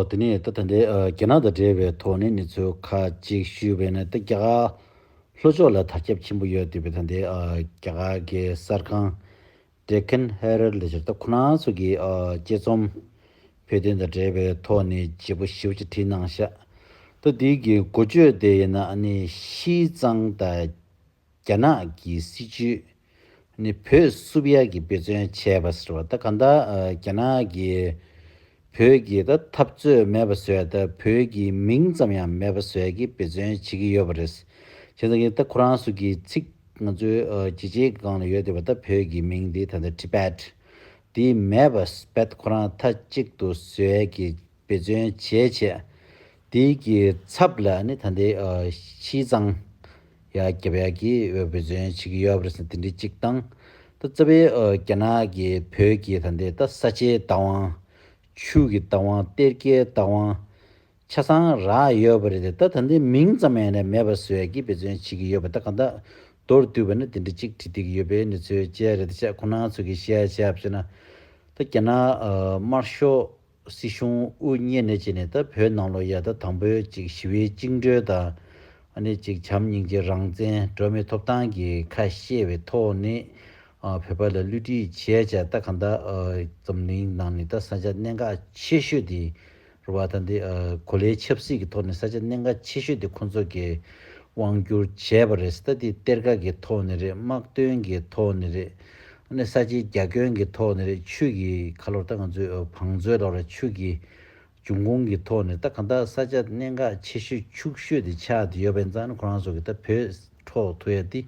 དེ་ནས་ད་ལྟ་རྒྱ་ནག་དང་འབྲེལ་བའི་ཐོག་ནས་གནས་ཚུལ་ཁ་ཅིག་ཞུས་པས་ན་ད་རྒྱ་གར་ལྷོ་ཕྱོགས་ལ་དར་ཁྱབ་ཆེན་པོ་ཡོད་འདུག་པས་ད་ལྟའི་རྒྱ་གར་གྱི་གསར་ཁང Deccan Herald ལས་ཕྱིར་ལྟ་ཁོ་ན་ཚོ་གིས་དཔྱད་རྩོམ་བོད་དོན་དང་འབྲེལ་བའི་ཐོག་ནས་བརྗེ་པོ་ཞིབ་ཅིག་བྲིས་གནང་ཤག་ད་འདི་གི་འགོ་བརྗོད་དེ་ཡིན་ན་ནི་ཤིས་གཙང་དང་རྒྱ་ནག་གི་སྲིད་ཇུས་ནི་བོད་བསུ་བ་ཡག་གི་དཔེ་མཚོན་བྱས་པ་ཟེར་བ་ད་ག་ད་རྒྱ་ནག་གི་བོད་ཀྱི་ད་འཐབ་རྩོད་མེད་པ་བཟོས་ད་བོད་ཀྱི་མིང་ཙམ་ཡང་མེད་པ་བཟོས་ཀྱི་དཔེ་མཚོན་བྱེད་ཀྱི་ཡོད་པ་རེད་བྱས་ཙང་གི་ད་ཁོ་རང་སུ་གི་ཚིག་ང་ཚོའི་རྒྱལ་སྤྱིའི་སྒང་ལ་ཡོད་དེ་བ་ད་བོད་ཀྱི་མིང་དེ་ད་ད Tibet དེ་མེད་པ་སྤད་ཁོ་རང་ད་གཅིག་ཏུ་བཟོས་ཀྱི་འབད་བརྩོན་བྱས་བྱས། དེ་ཀྱི་ཚབ་ལ་ནི་ད་ལྟའི་ཕྱིའི་གཙང། ཡ་རྒྱབ་ཡ་གྱིས་འབད་བརྩོན་བྱེད་ཀྱི་ཡོད་པ་རེད་ཟེར་དེ་འདྲའི་གཅིག་དང། ད་རྩ་བའི་རྒྱ་ནག་གི་བོད་ཀྱི་ད་ལྟའི་ད་ས་ཆའི་རྟ་དབང། ཆུ་གི་རྟ་དབང་གཏེར་ཁའི་རྟ་དབང། ཆ་ཚང་རག་ཡོད་པ་རེད་དེ་ད་ད་ལྟའི་མིང་ཙམ་ཡང་ན་མེད་པ་བཟོས་ཀྱིས་འབད་བརྩོན་བྱེད་ཀྱི་ཡོད་པ་ད་གང་དག་མདོར་བསྡུས་པ་ནི་དེ་འདྲ་གཅིག་བྲིས་བསྡད་ཀྱི་ཡོད་པའི་ནི་ཚོད་དཔྱད་རེད་དེ་ཆ་ཁོ་ན་ཚོ་གིས་བཤད་བཤད་བྱས་ན། ད་རྒྱ་ནག་དམར་ཤོག། སྲིད་གཞུང་དབུ་བརྙེས་ནས་བྱས་ནས་ད་བོད་ནང་ལོ་ཡ་ད་དང་པོའི་གཅིག་ཞི་བའི་བཅིངས་འགྲོལ་དང། ཨ་ནི་གཅིག་བྱམས་སྙིང་རྗེ་རང་བཙན་སྒྲོལ་མའི་ཐོབ་ཐང་གི་ཁ་བཤད་བའི་ཐོག་ནས་བོད་པ་ལ་བསླུ་བྲིད་བྱས་བྱས་ད་གང་ད་འཛམ་གླིང་ནང་ནས་ད་ས་ཆ་གནད་འགག་ཆེ་ཤོས་དེ་རུ་བ་ད་འདི་གོ་ལའི་ཆབ་སྲིད་ཀྱི་ཐོག་ནས་ས་ཆ་གནད་འགག་ཆེ་ཤོས་དེ་ཁོང་ཚོ་གི་དབང་བསྒྱུར་བྱས་པ་རེད་ད་འདི་གཏེར་ཁ་གི་ཐོག་ནས་རེད་དམག་དོན་གི་ཐོག་ནས་རེད་ནས་ས་ཆའི་རྒྱ་ཁྱོན་གྱི་ཐོག་ནས་རེད་ཆུས་ཀྱི་ཁ་ལོར་ལྟ་གང་མཛོད་བང་མཛོད་ལོར་ཆུས་ཀྱི་འབྱུང་ཁུངས་ཀྱི་ཐོག་ནས་ལྟ་གང་ལྟ་ས་ཆ་གནད་འགག་ཆེ་ཤོས་ཕྱུག་ཤོས་དེ་ཆགས་དེ་ཡོད་པ་ཡིན་ཙང་ཁོ་རང་ཚོ་གི་ལྟ་བོད་འཕྲོག་ཐུ་ཡ་ཏི་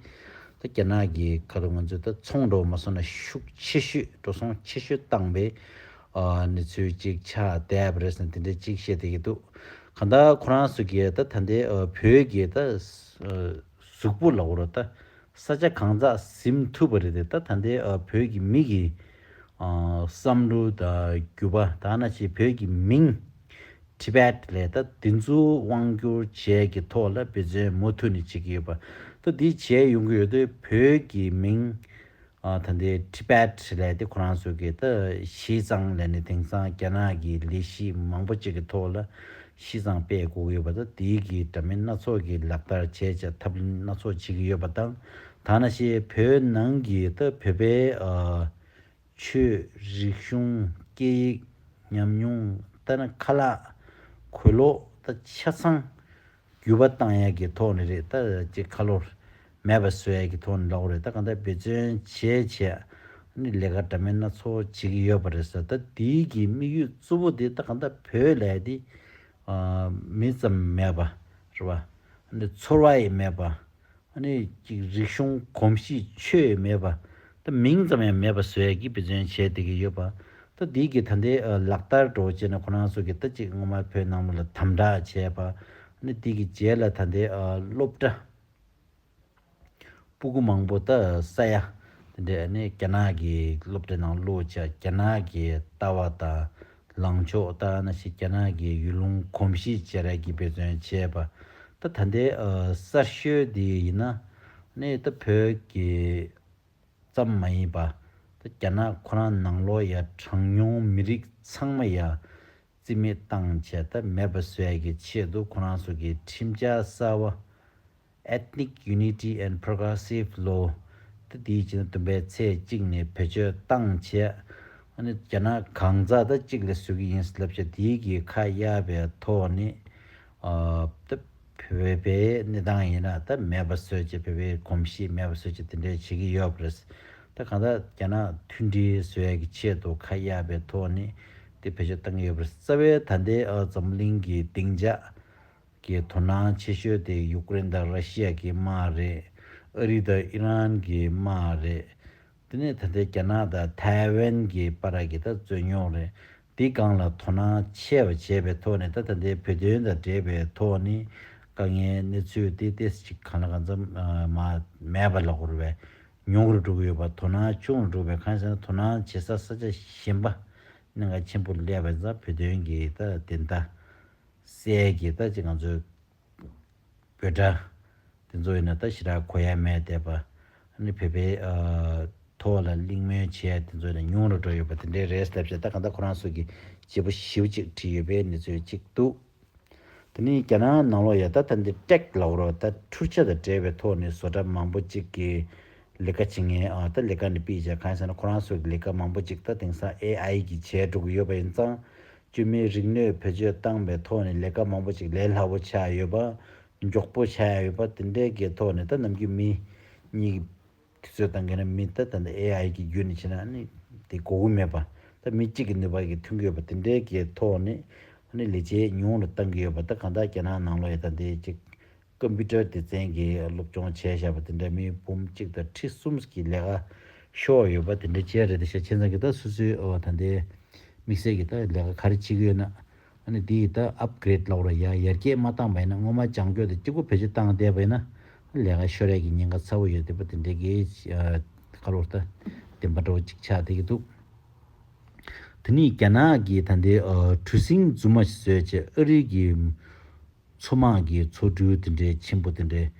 ལྟ་རྒྱ་ནག་གི་ཁ་ལོ་ང་ཚོའི་ལྟ་ཚོང་འགྲོ་བ་མ་སོང་ན་ཤུགས་ཆེ་ཤོས་འགྲོ་སོང་ཆེ་ཤོས་བཏང་པའི་ནི་ཚུལ་ཅིག་ཆགས་བསྡད་པ་རེད་ཟེར་དེ་འདྲའི་ཅིག་བཤད་བསྡད་ཀྱི་འདུག་གང་ལྟ་ཁོ་རང་ཚོ་གི་ལྟ་ད་ལྟའི་བོད་ཀྱི་ལྟ་གཟུགས་པོ་ལ་བོར་བ་ད་ས་ཆ་གང་ཙག་གཟིམ་ཐུབ་པ་རེད་དེ་ད་ད་འདི་བོད་ཀྱི་མི་གི་བསམ་བློ་ད་རྒྱུ་བ་ད་ན་ཆེ་བོད་ཀྱི་མིང Tibet ལས་ད་འདི་ཚོ་དབང་བསྒྱུར་བྱས་ཀྱི་ཐོག་ལ་འབད་བརྩོན་མུ་མཐུད་ནས་བྱེད་ཀྱི་ཡོད་པ་ད་འདི་བྱས་ཡོང་གི་ཡོད་དེ་བོད་ཀྱི་མིང་ད་ལྟའི Tibet ལས་དེ་ཁོ་རང་ཚོ་གི་ད་བྱས་ཙང་ལས་ནི་དེང་སང་རྒྱ་ནག་གི་ལས་གཞི་མང་པོ་གཅིག་གི་ཐོག་ལ་བྱས་ཙང་སྤེལ་དགོས་ཀྱི་ཡོད་པ་དང་དེའི་གི་འདྲ་མིན་སྣ་ཚོགས་ཀྱི་ལག་བསྟར་བྱས་བྱས་ཐབས་ལམ་སྣ་ཚོགས་བྱེད་ཀྱི་ཡོད་པ་དང་ད་ན་ཞེས་བོད་ནང་གི་ད་བོད་པའི་ཆོས་རིག་གཞུང་སྐད་ཡིག་ཉམས་མྱོང་ད་ནི་ཁ་ལག་གོས་ལོག་ད་ཆ་ཚང་བརྒྱུད་པ་བཏང་ཡག་གི་ཐོག་ནས་རེད་ད་ཅེས་ཁ་ལོ་མེད་པ་བཟོ་ཡག་གི་ཐོག་ནས་ལོག་རེད་ད་གང་ལྟར་འབད་བརྩོན་བྱས་བྱས་ནས་ལས་ཀ་འདྲ་མིན་སྣ་ཚོགས་བྱེད་ཀྱི་ཡོད་པ་རེད་ཟེར་ད་འདི་གི་དམིགས་ཡུལ་གཙོ་བོ་དེ་ད་གང་ལྟར་བོད་ལས་དེ་མི་ཙམ་མེད་པ་རེད་པ། ཚོར་བ་ཡི་མེད་པ། ནས་ཀྱི་རིག་གཞུང་གོམས་གཤིས་ཆོས་མེད་པ་དེ་མིང་ཙམ་ཡང་མེད་པ་བཟོས་ཡ་གི་བེད་སྤྱོན་བྱས་བསྡད་ཀྱི་ཡོད་པ་ད་དེའི་གི་ད་འདའི་ལག་བསྟར་འགྲོ་བྱེད་ནི་ཁོ་རང་ཚོ་གི་ད་ཅིག་སྔོན་མ་བོད་ནང་མོ་ལ་དམ་དྲག་བྱས་པ་ནི་དེ་གི་རྗེས་ལ་ད་འདའི་སློབ་གྲ་སྤུ་གུ་མང་པོ་ད་ས་ཡ་དེ་འདའི་ནས་རྒྱ་ནག་གི་སློབ་གྲ་ནང་བླུགས་བྱ་རྒྱ་ནག་གི་ལྟ་བ་དང། ལངས་ཕྱོགས་ལྟར་ན་ཞིག་རྒྱ་ནག་གིས་ཡུལ་ལུང་གོམས་གཤིས་བྱེ་རལ་གྱིས་འབད་བརྩོན་བྱས་པ། ད་ད་ལྟའི་གསར་ཤོས་དེ་ཡིན་ན་ནི་ད་བོད་ཀྱི་ཙམ་མ་ཡིན་པ། ད་རྒྱ་ནག་ཁོ་རང་ནང་ལོག་ཡ་གྲངས་ཉུང་མི་རིགས་ཚང་མ་ཡ་རྩི་མེད་བཏང་བྱས་ད་མེད་པ་བཟོས་ཀྱི་ཆེད་དུ་ཁོ་རང་སོ་གི་ཁྲིམས་འཆར་གསར་བ Ethnic Unity and Progressive Law། ཏི་དེའི་ཕྱི་ཟླ་བདུན་པའི་ཚེས་གཅིག་ནས་བེད་སྤྱོད་བཏང་རྗེས། ཨ་ནི་རྒྱ་ནག་གང་ཟག་ད་གཅིག་ལས་བཟོས་ཀྱི་ཡིན་ཟེར་ལབ་བྱ་དེའི་གི་ཁ་གཡར་པའི་ཐོག་ནས། ད་བོད་པའི་གནས་སྟངས་ཡིན་ན་ད་མེད་པ་བཟོས་རྗེས་བོད་པའི་གོམས་གཤིས་མེད་པ་བཟོས་རྗེས་དེ་འདྲའི་བྱེད་ཀྱི་ཡོད་པ་རེད། ད་གང་ཟག་རྒྱ་ནག་མཐུན་སྒྲིལ་བཟོ་ཡ་གི་ཆེད་དུ་ཁ་གཡར་པའི་ཐོག་ནས་ཏི་བེད་སྤྱོད་བཏང་གི་ཡོད་པ་རེད། རྩ་བའི་ད་ལྟའི་འཛམ་གླིང་གི་སྡིངས་ཆ། གི་དོ་སྣང་ཆེ་ཤོས་དེ་ཡུཀ་རེན་དང་ར་ཤི་ཡ་གི་དམག་རེད། ཨ་རི་དང་ཨི་རན་གྱི་དམག་རེད། དེ་ནས་ད་ལྟའི་རྒྱ་ནག་དང་ཐའེ་ཝན་གྱི་པ་ར་གི་ད་རྩོད་རྙོག་རེད། འདི་སྒང་ལ་དོ་སྣང་ཆེ་བ་བྱས་པའི་ཐོག་ནས་ད་ད་ལྟའི་བོད་དོན་དང་འབྲེལ་བའི་ཐོག་ནས་དཀའ་ངལ་གནས་ཚུལ་དེ་ཏེ་ཅིག་གང་ལ་གང་འཚམ་མ་མེད་པ་ལ་གོར་བའི་ཉུང་རུ་འགྲོ་གི་ཡོད་པ་དོ་སྣང་ཆུང་རུ་འགྲོ་བའི་གང་ཟེར་ན་དོ་སྣང་བྱེད་ས་ས་ཆ་གཞན་པ་ནས་འགའ་ཆེན་པོ་སླེབས་པ་ཡིན་ཙང་བོད་དོན་གྱི་ད་དེ་ད། སྲས་ཀྱིས་ད་ཅི་ང་ཚོའི་བོད་དགྲ། དེ་ཚོ་ཡིན་ན་ད་ཞི་དྲག་གོ་ཡ་མེད་བསྡད་པ། ནི་བོད་པའི། ཐོག་ལ་གླིང་སྨོན་བྱེད་ཡ་དེ་ཚོ་ཡིན་ན་ཉུང་རུ་འགྲོ་ཡོད་པ་དེ་འདྲའི་རེད་ཟླ་བཞག་ད་གང་ལྟར་ཁོ་རང་སོགས་ཀྱི་བྱེད་པོ་ཞིབ་གཅིག་བྲིས་ཡོད་པའི་ནི་ཚོད་ཅིག་འདུག། དེ་ནི་རྒྱ་ནག་ནང་ལོག་ཡ་ད་ད་འདི་སྐྲེག་ལ་འོ་རོག་ད་འཕྲུལ་ཆ་དང་བྲལ་བའི་ཐོག་ནི་བཟོ་གྲ་མང་པོ་ཅིག་གི་ལི་ཀ་བྱེད་ངེས་ཨ་ད་ལི་ཀ་ནི་པི་བྱ་གང་ཟེར་ན་ཁོ་རང་སོགས་ཀྱི་ལི་ཀ་མང་པོ་ཅིག་ད་དེང་སང AI གིས་བྱས་འགྲོ་གི་ཡོད་པ་ཡིན་ཙང་དཀྱུས་མའི་རིག་ནུས་བེད་སྤྱོད་བཏང་པའི་ཐོག་ནས་ལས་ཀ་མང་པོ་ཅིག་ལས་སླ་བོ་ཆགས་ཡོད་པ། མགྱོགས་པོ་ཆགས་ཡ་ཡོད་པ་དེ་འདྲའི་གའི་ཐོག་ནས་ད་ནམ་དཀྱུས་མི་གཉིས་ཀྱི་དུས་ཚོད་བཏང་གི་ན་མི་ད་ད་ནི AI གྱི་རྒྱུད་ནས་ཕྱིན་ན་ནི་དེ་གོ་གི་མེད་པ། ད་མི་གཅིག་གི་ནུས་པ་གྱིས་ཐུག་གི་ཡོད་པ་དེ་འདྲའི་གའི་ཐོག་ནས་ནི་ལས་བྱེད་ཉུང་རུ་བཏང་གི་ཡོད་པ་ད་གང་དག་རྒྱ་ནག་ནང་ལོ་ཡི་ད་འདི་གཅིག་ཀོམ་པུ་ཏར་སྡེ་ཚན་གྱིས་སློབ་སྦྱོང་བྱས་བཞག་པ་དེ་འདྲ་མི་འབུམ་གཅིག་དང་ཁྲི་གསུམ་ཀྱི་ལས་ཀ་ཤོར་ཡོད་པ་དེ་འདྲ་བཅས་རེད་དེ་ཤ་ཆེ་ཚང་གི་ད་སུ་སུའི་ཨོ་ད་འདི་དམིགས་བསལ་གྱི་ད་ལས་ཀ་ག་རེ་བྱེད་ཀྱི་ཡོད་ན་ཨ་ནི་འདི་ཡི་ད Upgrade ལོག་ར་ཡག་ཡར་རྒྱས་མ་བཏང་བ་ཡིན་ན་སྔོན་མ་ལྗང་སྐྱོ་དང་སྐྱིད་པོ་བེད་སྤྱོད་བཏང་བསྡད་པ་ཡིན་ན་ལས་ཀ་ཤོར་རེས་ཀྱི་ཉེན་ཁ་ཚ་བོ་ཡོད་དེ་པ་དེ་འདྲའི་གི་ཁ་ལོར་ད་བདེན་པ་འདྲ་བོ་ཅིག་ཆགས་བསྡད་ཀྱི་འདུག་དེ་ནི་རྒྱ་ནག་གི་ད་འདི་གྲུ་གཟིངས་རྫུན་མ་ཞིག་བཟོས་རྗེས་ཨ་རིའི་གི། མཚོ་དམག་གི་མཚོ་གྲུ་དེ་འདྲའི་ཆེན་པོ་དེ་འདྲའི་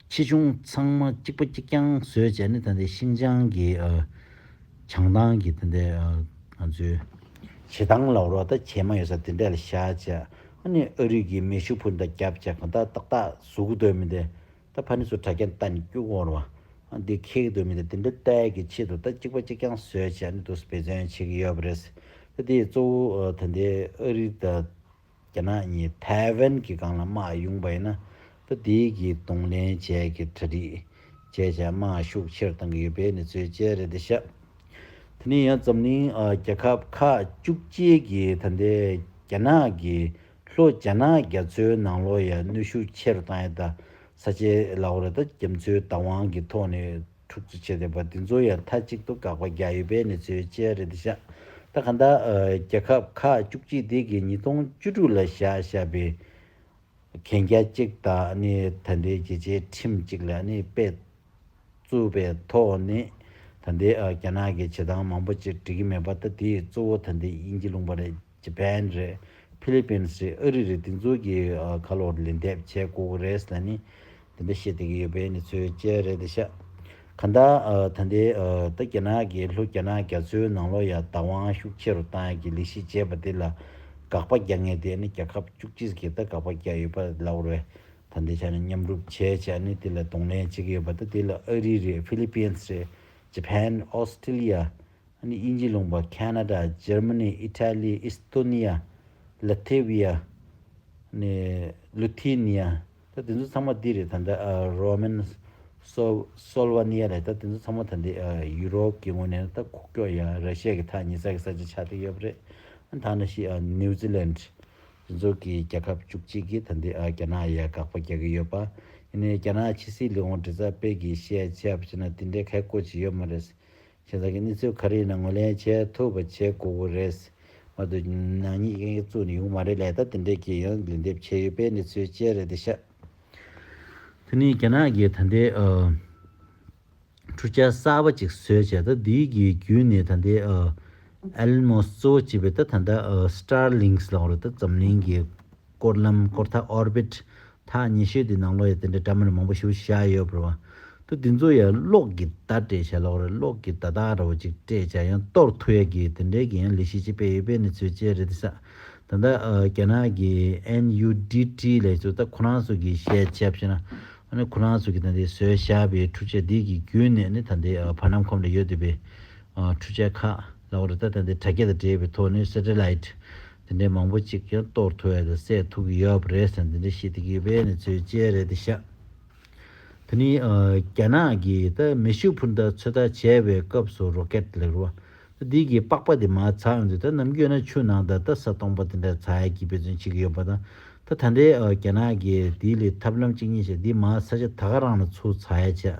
ཆེ་ཆུང་ཚང་མ་གཅིག་པ་གཅིག་རྐྱང་བཟོས་བྱས་ནས་ད་ལྟའི་ཤིན་ཅང་གི་བྱང་ཐང་གི་དེ་འདྲའི་ང་ཚོའི་བྱེ་ཐང་ལ་རོ་ད་བྱེ་མ་ཡོད་ས་དེ་འདྲ་ལ་བཞག་བྱས་ཨ་ནི་ཨ་རིག་གི་མེ་ཤུགས་ཕུ་འདྲ་བརྒྱབ་བྱས་གང་ལྟར་ཏག་ཏག་ཟུག་གི་སྡོད་མི་འདི་ད་ཕ་ནི་ཚོ་དྲ་རྒྱ་ད་ནི་སྐྱུག་བོར་བ་འདི་ཁེལ་གི་སྡོད་མི་འདི་དེ་འདྲའི་ལྟས་ཀྱི་ཆེད་དུ་ད་གཅིག་པ་གཅིག་རྐྱང་བཟོས་བྱས་ནས་དུ་བེད་བརྩོན་བྱེད་ཀྱི་ཡོད་པ་རེད། ད་དེ་ཡི་གཙོ་བོ་ད་ལྟའི་ཨ་རིག་ད། རྒྱ་ནག་གཉིས་ཐའེ་ཝན་གྱི་སྒང་ལ་དམག་དབྱུང་པ་ཡིན་ན་ལྷོ་དེའི་གྱི་གདོང་ལེན་བཅས་ཀྱི་གྲ་སྒྲིག་བྱས་བྱས་དམག་ཤུགས་ཆེར་བཏང་གི་ཡོད་པའི་གནས་ཚུལ་བཅས་རེད་འདི་ཤག་དེ་ནས་ཡང་འཛམ་གླིང་རྒྱལ་ཁབ་ཁག་བཅུ་གཅིག་གི་ད་ལྟའི་རྒྱ་ནག་གི་ལྷོ་རྒྱ་ནག་རྒྱ་མཚོའི་ནང་ལོ་ཡ་གནོད་ཤུགས་ཆེར་བཏང་ཡོད་ད་ས་ཆའི་ལའོ་རེ་ད་རྒྱ་མཚོའི་བདག་དབང་གི་ཐོག་ནས། དྲུག་ཅུ་བཅས་ལྡན་པ་འདི་ཚོ་ཡང་མཐའ་གཅིག་ཏུ་དགག་པ་རྒྱག་ཡོད་པའི་གནས་ཚུལ་ཅི་རེད་འདི་བཞག་ད་ག་འདའ། རྒྱལ་ཁབ་ཁག་བཅུ་གཅིག་སྡེ་དགེ་ཉིས་སྟོང་བཅུ་དྲུག་ལ་བཞག་བཞག་པའི་གན་རྒྱ་གཅིག་དང་ནི་ད་ལྟའི་རྒྱལ་སྤྱིའི་ཁྲིམས་གཅིག་ལ་ནི་དཔེ་བཙུགས་པའི་ཐོག་ནི་ད་ལྟའི་རྒྱ་ནག་གི་བྱེད་སྟངས་མང་པོ་ཅིག་འགྲིག་གི་མེད་པ་ད་དེའི་གཙོ་བོ་ད་ལྟའི་དབྱིན་ཇི་ལུང་པ་རེད། ཇི་པན་རེད། ཕི་ལི་པིན་སི་རེད་ཨ་རི་རེད་དེ་ཚོ་གི་ཁ་ལོ་ལེན་འདེབས་བྱས་ཀོ་ཀོ་རེས་ལ་ནི་དེ་འདྲ་བཤད་བསྡད་ཀྱི་ཡོད་པས་ནི་ཚོའི་དཔྱད་རེད་དེ་ཤ་ག་འདྲ་ད་འདི་ད་རྒྱ་ནག་གི་ལྷོ་རྒྱ་ནག་རྒྱ་མཚོའི་ནང་ལོ་ཡ་བདག་དབང་ཤུགས་ཆེ་རུ་བཏང་ཡ་གི་ལི་ཤི་བྱས་པ་དེ་ལ་དགག་པ་རྒྱག་ངེས་དེ་ནི་རྒྱ་ཁབ་བཅུ་གཅིག་གི་ད་དགག་པ་རྒྱག་ཡོད་པ་ལ་བར་བས་ད་འདི་ཆ་ནི་མཉམ་རུབ་བྱས་བྱས་ནི་དེ་ལ་གདོང་ལེན་བྱེད་ཀྱི་ཡོད་པ་ད་དེ་ལ་ཨ་རི་རེད་ཕི་ལི་པིན་སི་རེད་ཇི་པན་ཨོ་སི་ཏི་ལི་ཡ། ཨ་ནི་དབྱིན་ཇི་ལུང་པ་ཁ་ན་ཏྲ་ཇར་མ་ནི་ཨི་ཐ་ལི་ཨི་སི་ཏོ་ནི་ཡ་ལི་ཐེ་བི་ཡ་ནི་ལུ་ཐི་ནི་ཡ་ད་དེ་ཚོ་ཚང་མ་འདི་རེད་ད་ནི་རོ་མན་སོ་སོལ་བ་ནི་ཡ་རེད་ད་དེ་ཚོ་ཚང་མ་ད་ནི་ཡུ་རོབ་ཀྱི་ངོས་ནས་ད་ཁུག་ཀྱོག་ཡ་ར་ཤི་ཡ་གི་ཐ་ཉི་ས་གི་ས་ཆ་ཆགས་ཏེ་ཡོད་པ་རེད་ད་ནི་ཤི་ནིའུ་ཛི་ལན་དེ་ཚོ་གི་རྒྱལ་ཁབ་བཅུ་གཅིག་གི་ད་ནི་རྒྱ་ནག་ཡ་དགག་པ་རྒྱག་གི་ཡོད་པ་ཡིན་ནི་རྒྱ་ནག་ཕྱི་སྲིད་ལི་ཧོང་དྲི་ཚ་དཔལ་གི་བཤད་བྱ་བྱས་ན་དེ་འདྲའི་ཁ་བཀོད་བྱེད་ཡོད་མ་རེད་ཁྱེད་ཅག་གིས་གནས་ཚུལ་ག་རེ་ཡིན་ན་ངོས་ལེན་བྱེད་ཐུབ་པ་བྱེད་དགོས་ཀྱི་རེད། མ་གཏོགས་ནག་ཉེས་ཀྱི་ཡིག་གཙུག་ནས་ཡོང་མ་རེད་ལས་ད་དེ་འདྲས་ཀྱི་ཡང་ལན་འདེབས་བྱས་ཡོད་པས་གནས་ཚུལ་ཅི་རེད་དེ་ཤ་དེ་ནས་རྒྱ་ནག་གིས་ད་ལྟའི་འཕྲུལ་ཆ་གསར་པ་ཅིག་བཟོས་བྱས་ད་དེའི་གི་བརྒྱུད་ནས་ད་ལྟའི Elon Musk གཙོ་བོ་བྱས་པའི་ད་ད་ལྟ Starlinks ལགས་རེད་ད་འཛམ་གླིང་གི་སྐོར་ལམ་སྐོར་ཐག Orbit ཐག་ཉི་ཤུའི་དེ་ནང་ལོགས་ཡ་དེ་འདྲ་འདྲ་མིན་མང་པོ་ཞུ་བཞག་ཡོད་པར་བ་ཏུ་དེ་ཚོ་ཡ་གློག་གི་བརྡ་སྤྲད་བྱས་ལོགས་རེད་གློག་གི་བརྡ་དག་རོ་གཅིག་སྤྲད་བྱས་ཡང་གཏོར་ཐུ་ཡ་གི་དེ་འདྲའི་གི་ཡང་ལས་ཤིག་ཅིག་སྤེལ་ཡོད་པའི་གནས་ཚུལ་བཅས་རེད་དེ་ས་ད་ལྟ་རྒྱ་ནག་གི NUDT ལས་ཚོ་ད་ཁོ་རང་ཚོ་གི་བཤད་བྱས་བྱས་ན་ཨ་ཁོ་རང་ཚོ་གི་ད་འདི་བཟོས་བཞག་པའི་འཕྲུ་ཆས་འདི་གི་རྒྱུན་ནས་ནི་ད་འདི་བར་སྣམ་ཁོམ་ལ་ཡོད་འདོད་པའི་འཕྲུ་ཆས་ཁག་ལོགས་རེད་ད་ད་འདི་དྲ་རྒྱ་དང་འབྲེལ་བའི་ཐོག་ནས Satellite དེ་འདྲའི་མང་པོ་ཅིག་ཀྱང་གཏོར་ཐུ་བས་དེ་སད་ཐུག་གི་ཡོད་པ་རེད་ཟེར་འདི་འདྲའི་ཤེས་ཏེ་གི་བས་ནི་ཚོས་བཅད་རེད་དེ་ཤག། དེ་ནི་རྒྱ་ནག་གིས་ད་མེ་ཤུ་འཕུར་མདའ་ཚོད་ལྟ་བྱས་པའི་སྐབས་སུ་རོ་ཀེད་ལེགས་རོ་ད་འདི་གི་པགས་པ་དེ་མ་ཚགས་ཡོང་དུས་ད་ནམ་རྒྱུན་ན་ཆུ་ནང་དང་ད་ས་སྟོང་པ་དེ་འདྲ་ཚགས་ཡས་ཀྱི་དཔེ་མཚོན་བྱེད་ཀྱི་ཡོད་པ་དང་ད་ད་འདྲའི་རྒྱ་ནག་གིས་དེའི་ལས་ཐབས་ལམ་གཅིག་གཉིས་བྱས་འདི་མ་ཚགས་ཆ་ད་ག་རང་ལ་ཚུར་ཚགས་ཡས་བྱས་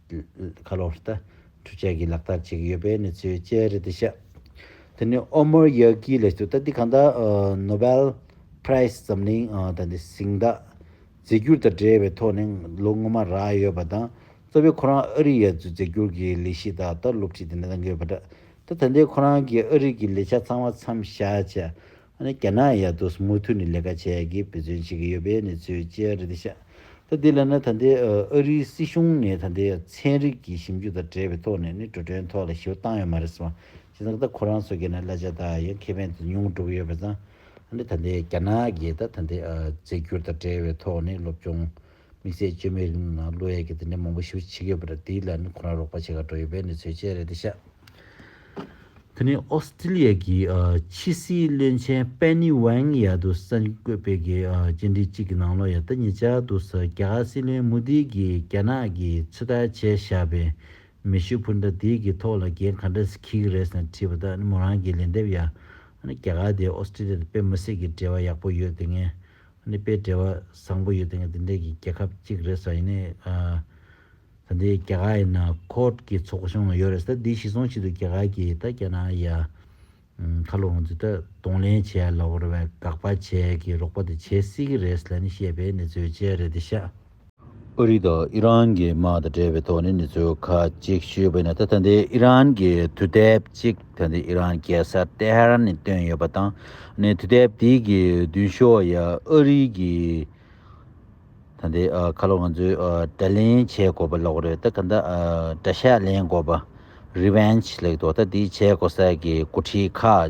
ཁ་ལོ་ལྟ་གྲུ་བཅས་ཀྱིས་ལག་བསྟར་བྱེད་ཀྱི་ཡོད་པའི་གནས་ཚུལ་བཅས་རེད་འདུག་ཤག་དེ་ནི་ཨོ་མོར་ཡཱ་ཀིའི་ལས་གཏོད་ལྟ་འདི་གང་ལྟར Nobel Prize འཛམ་གླིང་དང་དེ་གཟིགས་འདག་རྫས་འགྱུར་དང་འབྲེལ་བའི་ཐོག་ནས་ལོ་སྔོན་མར་རག་ཡོད་པ་དང་གཙོ་བོའི་ཁོ་རང་ཨ་རིའི་ཡར་རྫུས་རྫས་འགྱུར་གྱི་ལས་གཞི་དག་ལྟར་སློབ་ཁྲིད་དེ་འདྲ་གནང་གི་ཡོད་པ་འདྲ་ད་ལྟའི་ཁོ་རང་གི་ཨ་རིག་གི་ལས་བྱ་ཚང་མ་མཚམས་བཞག་བྱས་ཨ་ནི་རྒྱ་ནག་ཡ་རྡོ་སི་མུ་མཐུད་ནས་ལས་ཀ་བྱས་ཀྱི་འབད་བརྩོན་བྱེད་ཀྱི་ཡོད་པའི་གནས་ཚུལ་བཅས་རེད་དེ་ཤ་ད་དེ་ལ་ནི་ད་དེ་ཨ་རིའི་སྲིད་གཞུང་ནས་ད་དེ་ཚན་རིག་གི་ཞིབ་འཇུག་དང་བྲལ་བའི་ཐོག་ནས་ནི་འགྲོ་གྲོན་ཐོག་ལ་ཞིབ་བཏང་ཡོད་མ་རེད་སམ་ཇི་ཙང་ད་ཁོ་རང་ཚོ་གི་ནི་གླ་ཆ་དག་ཡང་ཁེ་ཕན་དུ་ཉུང་བསྒྲུབས་ཡོད་པ་ཙང་ཨ་ནི་ད་དེ་རྒྱ་ནག་གི་ད་ད་དེ་རྫས་འགྱུར་དང་བྲལ་བའི་ཐོག་ནས་སློབ་སྦྱོང། དམིགས་བསལ་བཅོས་མའི་རིང་ལུགས་ནང་གློ་གཡས་ཀྱི་དེ་འདྲའི་མང་པོ་ཞིག་བྱེད་ཀྱི་ཡོད་པ་རེད་དེའི་ལན་ནི་ཁོ་རང་རོགས་པ་བྱེད་ཁར་འགྲོ་ཡི་བས་ནི་ཚོད་ཆེ་རེད་དེ་ཤ། དེ་ནི་ཨོ་སི་ཀྲི་ལི་ཡ་གི་ཕྱི་སྲིད་བློན་ཆེན་པེན་ནི་ཝེང་ཡར་དུ་ས་འགྱིག་བརྐོས་དཔེ་གི་རྗེས་འབྲེལ་གཅིག་གི་ནང་ལོ་ཡར་ལྟ་ཉེ་ཆར་དུ་ས་སྐྱ་སྲིད་བློན་མུ་དྷི་གིས་རྒྱ་ནག་གིས་ཚོད་ལྟ་བྱས་བཞག་པའི་མེ་ཤུགས་འཕུར་མདའ་དེ་གི་ཐོག་ལ་འགན་ག་འདྲ་ཞིག་འཁྱེར་གི་རེད་ཟེར་ནས་དྲིས་པ་དག་ནི་མོ་རང་གིས་ལན་འདེབས་ཡ། ཨ་ནི་རྒྱ་གར་དེ་ཨོ་སི་ཀྲི་ལི་ཡ་དང་དཔེ་མི་སྲིད་ཀྱི་འབྲེལ་བ་ཡག་པོ་ཡོད་དེ་ངས་གནས་པའི་བྲེལ་བ་བཟང་པོ་ཡོད་ནས་འདི་འདྲའི་གི་རྒྱལ་ཁབ་ཅིག་རེད་ས་ཡིན་ནའི། ད་འདི་རྒྱ་གར་ཡིན་ན court གི་ཚོགས་གཞུང་ཡོད་རེད་ས་འདི་ཞིག་སོང་ཆེད་དུ་རྒྱ་གར་གི་ད་རྒྱ་ནག་ཡ། ཁ་ལོ་ང་ཚོས་ད་གདོང་ལེན་བྱས་ཡ་ལོ་བར་བས་དགག་པ་བྱས་གི་རོགས་པ་དེ་བྱས་སྲིད་གི་རེད་ས་ལ་ནི་བཤད་པའི་ནི་བརྫོད་བྱས་རེད་དེ་ཤ། ཨ་རི་དང་ཨི་རན་གྱི་དམག་དང་འབྲེལ་བའི་ཐོག་ནས་གནས་ཚུལ་ཁག་ཅིག་ཞུས་པའི་ནང་ད་ལྟ་འདིར་ཨི་རན་གྱི་དུས་དེབ་ཅིག་ད་ལྟའི་ཨི་རན་རྒྱལ་ས་ཏེ་ཧ་རན་ནས་བཏོན་ཡོད་པ་དང་ནས་དུས་དེབ་དེའི་གི་མདུན་ཤོག་ཡ་ཨ་རི་གི་ད་ལྟའི་ཁ་ལོ་ང་ཚོས་དྲ་ལེན་བྱས་དགོས་པ་ལོག་རེད་ད་ག་འདའ་དྲ་ཤ་ལེན་དགོས་པ Revenge ལེགས་འདུག་ད་འདི་བྱས་དགོས་ས་གི་འགོ་ཁྲིད་ཁག་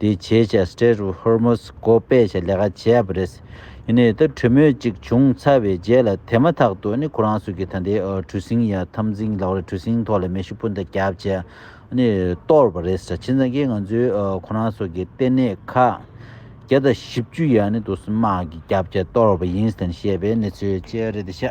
དེའི་བྱས་བྱས Strait of Hormuz གོ་སྤེལ་བྱེད་ལས་ཀ་བྱས་པ་རེད། ཡིན་ནའི་ད་གྲོས་མོལ་ཅིག་བྱུང་ཚར་བའི་རྗེས་ལ་དེ་མ་ཐག་ཏུ་ཁོ་རང་ཚོ་གིས་ད་ལྟའི་གྲུ་གཟིངས་ཡར་འཐམ་གཟིངས་ལག་རེད་གྲུ་གཟིངས་ཐོག་ལ་མེ་ཤུགས་སྤུན་ཟླ་བརྒྱབ་བྱས་གཏོར་བ་རེད་ཟེར་ཕྱིན་ཙང་གིས་ང་ཚོའི་ཁོ་རང་ཚོ་གི་ལྟེ་གནས་ཁག་བརྒྱ་དང་བཞི་བཅུ་ཡར་ནས་དུ་སུན་དམག་གིས་བརྒྱབ་བྱས་གཏོར་བ་ཡིན་ཟེར་བཤད་པའི་གནས་ཚུལ་བཅས་རེད་དེ་ཤ་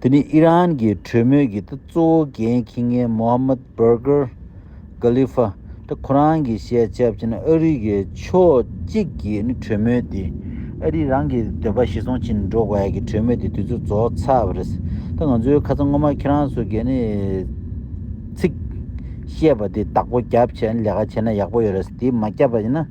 དེ་ནི་ཨི་རན་གྱི་གྲོས་མོལ་གྱི་གཙོ་བོ་འགན་འཁྱིལ་མཁན་མོ་ཧ་མད་བྷར་གྷར། Khalifa། ཏེ་ཁོ་རང་གི་བཤད་བྱ་བྱས་ན་ཨ་རི་གའི་ཕྱོགས་གཅིག་གིས་ནི་གྲོས་མོལ་དེ་ཨ་རི་རང་གི་འདོད་པ་ཞིག་སོང་ཕྱིན་འགྲོ་དགོས་ཡ་གི་གྲོས་མོལ་དེ་དུས་ཚོད་རྫོགས་ཚར་བ་རེད། ད་ང་ཚོའི་ཁ་ཚ་སྔོན་མ་ཁྱེད་རང་ཚོ་གས་ནི་ཚིག་བཤད་པ་དེ་དག་པོ་རྒྱབ་བྱས་ནས་ལས་ཀ་བྱས་ན་ཡག་པོ་ཡོད་རེད་དེ་མ་རྒྱབ་པ་ཡིན་ན།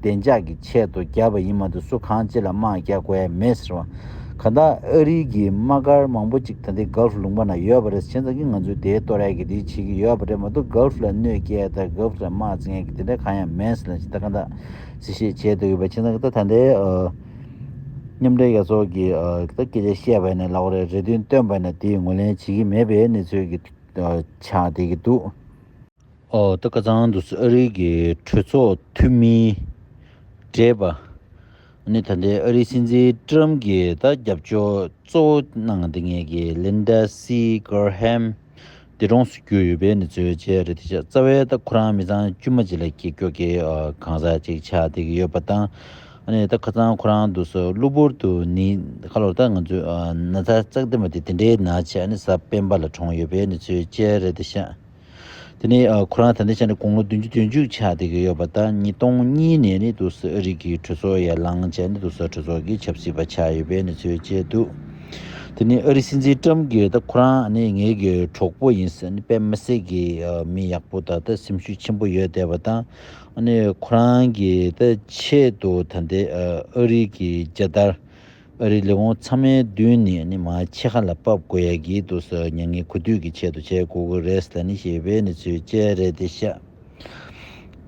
བདེ་འཇགས་ཀྱི་ཆེད་དུ་བརྒྱབ་པ་ཡིན་མ་འདུག་སུ་གང་ཅི་ལ་དམག་རྒྱག་དགོས་མེད་ཟེར་བ། ག་ད་ཨ་རིའི་གི་དམག་སྒར་མང་པོ་ཅིག་ད་ལྟའི Gulf ལུང་པ་ན་ཡོད་པ་རེད་ཟེར་མཁན་ཙམ་གྱིས་ང་ཚོས་དེའི་ལྟོ་རས་ཀྱི་དེ་བྱེད་ཀྱི་ཡོད་པ་རེད་མ་གཏོགས Gulf ལ་གནོད་སྐྱེལ་དང Gulf ལ་དམག་བཙན་མཁན་གྱི་དེ་འདྲ་གང་ཡང་མེད་ཟེར་ལ་ཇི་ལྟ་ག་ད་ཟེར་བཤད་བྱས་འདུག་གི་བ་ཁྱེད་ཚང་གི་ད་ད་ལྟའི་མཉམ་འབྲེལ་རྒྱལ་ཚོགས་ཀྱི་གི་ད་སྐད་ཆ་བཤད་པ་ནས་ལག་རེ་རེ་བདུན་བཏོན་པ་ནས་དེ་ངོས་ལེན་བྱེད་ཀྱི་མེད་པའི་གནས་ཚུལ་གྱི་ཆགས་བསྡད་ཀྱི་འདུག། ཏི་ཀ་ཚང་དུ་ཨ་རིའི་གི་གྲོས་ཚོགས་འཐུས་མིའི་གྲས་པ་ནི་ད་ལྟའི་ཨ་རིའི་སྲིད་འཛིན་ཀྲི་རམ་གྱི་ད་རྒྱབ་སྐྱོར་གཙོ་བོ་གནང་འདི་ངེས་གི་ལིན་ད་སི་ཀར་ཧེམ་འདི་གྲོངས་སུ་གྱུར་ཡོད་པའི་ནི་ཚོའི་རྗེས་རེད་དེ་ཆ་རྩ་བའི་ད་ཁོ་རང་མི་ཚང་དཀྱུས་མ་གཅིག་ལ་གྱི་སྐྱོ་གི་གང་ཟག་གཅིག་ཆགས་འདི་གི་ཡོད་པ་དང་ནི་ད་ཁ་ཚང་ཁོ་རང་དུ་སུ་གློ་བུར་དུ་ནི་ཁ་ལོར་ད་ང་ཚོའི་ན་ཚ་ཙག་འདི་མ་འདི་འདི་འདྲའི་ན་ཆ་ནི་ས་སྤེན་པ་ལ་གྲོངས་ཡོད་པའི་ནི་ཚོའི་རྗེས་རེད་དེ་ཆ། དེ་ནི་ཁོ་རང་ད་ལྟའི་ཆ་ནས་དགུང་ལོ་བདུན་ཅུ་དོན་བཅུ་ཆགས་བསྡད་ཀྱི་ཡོད་པ་དང་ཉིས་སྟོང་གཉིས་ནས་ནི་དུ་སི་ཨ་རིག་གི་གྲོས་ཚོགས་ཡར་ལངས་བྱས་ནས་དུ་སི་ཨ་གྲོས་ཚོགས་ཀྱི་ཆབ་སྲིད་པ་ཆགས་ཡོད་པའི་གནས་ཚུལ་བཅས་འདུག་དེ་ནི་ཨ་རིའི་སྲིད་འཛིན་ཀྲམ་གྱིས་ད་ཁོ་རང་ནི་ངེད་ཀྱི་གྲོགས་པོ་ཡིན་ཟེར་ནས་དཔེ་མི་སྲིད་ཀྱི་མི་ཡག་པོ་དང་ད་སེམས་ཤུགས་ཆེན་པོ་ཡོད་བསྡད་པ་དང་ཨ་ནི་ཁོ་རང་གིས་ད་ཆེད་དུ་ད་ལྟའི་ཨ་རིག་གི་རྒྱལ་དར། ཨ་རིའི་ལས་ཁུངས་ཚང་མའི་མདུན་ནས་ནི་མ་ཕྱེད་ཁ་ལ་བབས་དགོས་ཡག་གི་འདུག་ཟེར་མྱ་ངན་གུས་འདུད་ཀྱི་ཆེད་དུ་བྱས་དགོས་ཀྱི་རེད་ཟེར་ནི་ཞེས་པའི་ནི་ཚུལ་དཔྱད་རེད་དེ་བཤད།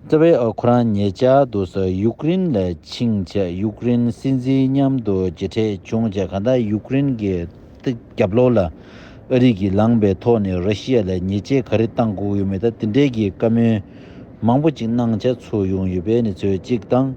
རྩ་བའི་ཨ་ཁུ་རང་ཉེ་ཆར་དུ་ས་ཡུ་ཀེ་རིན་ལ་ཕྱིན་ཆད་ཡུ་ཀེ་རིན་སྲིད་འཛིན་མཉམ་དུ་མཇལ་འཕྲད་བྱུང་ཆ་གང་དག་ཡུ་ཀེ་རིན་གྱི་རྒྱབ་ལོག་ལ་ཨ་རིས་ཀྱིས་ལངས་པའི་ཐོག་ནས་ར་ཤི་ཡ་ལ་ཉེས་ཆད་ག་རེ་བཏང་དགོས་ཀྱི་ཡོད་མེད་དང་དེ་འབྲེལ་གྱི་བཀའ་མོལ་མང་པོ་ཅིག་གནང་འཆར་ཚུགས་ཡོང་ཡོད་པའི་ནི་ཚུལ་གཅིག་དང།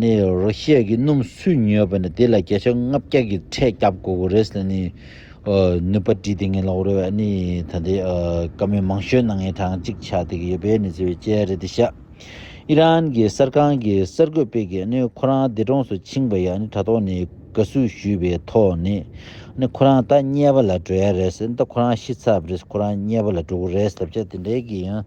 ནི་རོ་ཤས་ཀྱི་སྣུམ་སུས་ཉོས་པ་ནི་དེ་ལ་བརྒྱ་ཆ་ལྔ་བརྒྱ་ཀྱི་ཁྲལ་བརྒྱབ་དགོས་གོ་རེད་ལ་ནི། ནུས་པ་དྲིས་ཏེ་ངའི་ལག་རོལ་བས་ནི་ད་ལྟའི་བཀའ་མོལ་མང་ཤོས་ནང་ངའི་གྲངས་གཅིག་ཆགས་བསྡད་ཀྱི་ཡོད་པས་ནི་ཟེར་བའི་དཔྱད་རེད་འདི་ཤག་ཨི་རན་གྱི་གསར་ཁང་གི་གསར་འགོད་པས་ཀྱི་ནི་ཁོ་རང་འདས་གྲོངས་སུ་ཕྱིན་པ་ཡང་ནི་དྲ་ཐོག་ནི་དགའ་བསུ་ཞུས་པའི་ཐོག་ནི་ནི་ཁོ་རང་ད་དམྱལ་བ་ལ་འགྲོ་ཡ་རེད་ཟེར་ད་ཁོ་རང་ཤི་ཚར་བ་རེད་ཁོ་རང་དམྱལ་བ་ལ་འགྲོ་གི་རེད་ཟེར་བྱས་དེ་འདྲའི་གི་ཡང།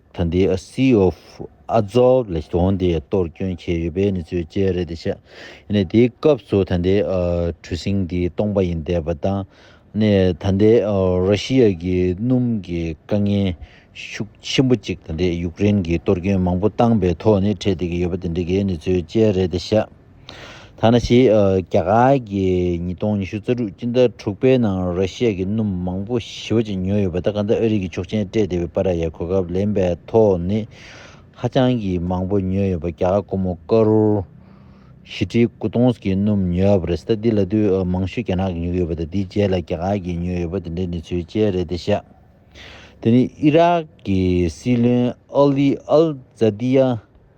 ད་ལྟའི Sea of Azov ལ་གྲོང་དེ་གཏོར་སྐྱོན་བྱས་ཡོད་པའི་གནས་ཚུལ་བཅས་རེད་བཤད། ཡིན་ན་དེའི་སྐབས་སུ་ད་ལྟའི་གྲུ་གཟིངས་དེ་སྟོང་པ་ཡིན་བསྡད་པ་དང། ད་ལྟའི་ར་ཤི་ཡཱ་གི་སྣུམ་གྱི་དཀའ་ངལ་ཤུགས་ཆེན་པོ་གཅིག་ད་ལྟའི་ཡུཀ་རེན་གྱིས་གཏོར་སྐྱོན་མང་པོ་བཏང་པའི་ཐོག་ནས་འཕྲད་བསྡད་ཀྱི་ཡོད་པ་དེ་འདྲ་གི་གནས་ཚུལ་བཅས་རེད་བཤད། ཐ་ན་ཕྱི་རྒྱ་གར་གྱི་ཉིས་སྟོང་ཉི་ཤུ་རྩ་དྲུག་སྤྱི་ཟླ་དྲུག་པའི་ནང་ར་ཤི་ཡ་གྱི་སྣུམ་མང་པོ་ཞི་བ་ཅན་ཉོས་ཡོད་པ་དང་གང་ལྟར་ཨ་རིག་གི་ཆོག་མཆན་སྤྲད་བདེ་བའི་པ་ར་ཡའི་གོ་སྐབས་ལེན་པའི་ཐོག་ནི་ཧ་ཅང་གི་མང་པོ་ཉོས་ཡོད་པ་རྒྱ་གར་ཀོ་མོ་ཀ་རོར་བཞི་ཁྲི་དགུ་སྟོང་གི་སྣུམ་ཉོས་ཡོད་པ་རེད་སྟབས་འདི་ལ་དུས་མང་ཤོས་རྒྱ་ནག་གིས་ཉོ་གི་ཡོད་པ་དང་དེའི་རྗེས་ལ་རྒྱ་གར་གྱིས་ཉོས་ཡོད་པ་དེ་འདྲའི་གནས་ཚུལ་ཅན་རེད་དེ་བཞག་དེ་ནི་ཨི་རག་གི་སྲིད་བློན་ཨ་ལི་ཨལ་ཛཱ་དི་ཡ་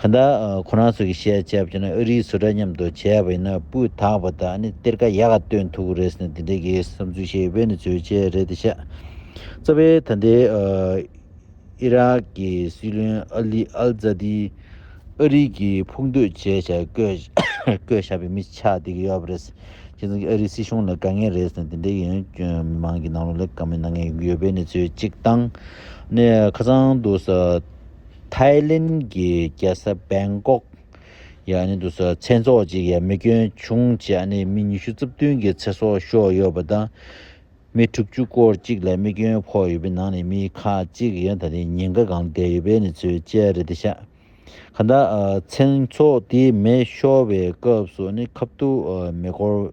ཁ་བརྡ། ཁོ་རང་ཚོ་གི་བཤད་བྱ་བྱས་ན་ཨ་རིའི་བཟོ་གྲྭ་མཉམ་དུ་བྱས་པ་ཡིན་ན་སྤུས་དག་པ་དང་ནི་གཏེར་ཁ་ཡག་སྟོན་ཐུབ་རེད་ཟེར་ནས་དེ་འདྲའི་གི་བསམ་ཚུལ་བཤད་པས་ནི་བརྗོད་བྱ་རེད་དེ་ཤ་རྩ་བའི་ད་ལྟའི་ཨི་རག་གི་སྲིད་བློན་ཨ་ལི་ཨལ་ཛ་དི་ཨ་རིའི་གི་ཕུགས་འདོད་བྱས་བྱ་བསྐོས་བྱ་བའི་མི་ཆགས་དེ་གི་ཡོད་པ་རེད་ཁྱེད་ཚོ་གི་ཨ་རིའི་སྲིད་གཞུང་ལ་དགའ་ངེས་རེད་ཟེར་ནས་དེ་འདྲའི་གི་མི་མང་གི་ནང་ལོག་ལས་ཀ་མི་གནང་ངེས་ཡོད་པས་ནི་བརྗོད་ཅིག་དང་ནི་ཁ་ཚང་དུ་ཟ། ཐའི་ལེན་གྱི་རྒྱལ་ས་སྦེང་ཀོག་ཡང་དུས་སུ་ཚེ་སྲོག་ཅིག་ཡ་མི་སྐྱོན་བྱུང་རྗེས་ནས་མི་ཉི་ཤུ་རྩ་བདུན་གྱི་ཚེ་སྲོག་ཤོར་ཡོད་པ་དང། མི་དྲུག་ཅུ་སྐོར་ཅིག་ལ་མི་སྐྱོན་ཕོག་ཡོད་པའི་ནང་ནས་མི་ཁག་ཅིག་ཡང་ད་ནི་ཉེན་ཁ་གང་བསྡད་ཡོད་པའི་གནས་ཚུལ་བཅས་རེད་དེ་ཤ་ཁ་ད་ཚེ་སྲོག་དེ་མེ་ཤོར་བའི་སྐབས་སུ་ནི་ཁབ་ཏུ་མེ་འཁོར་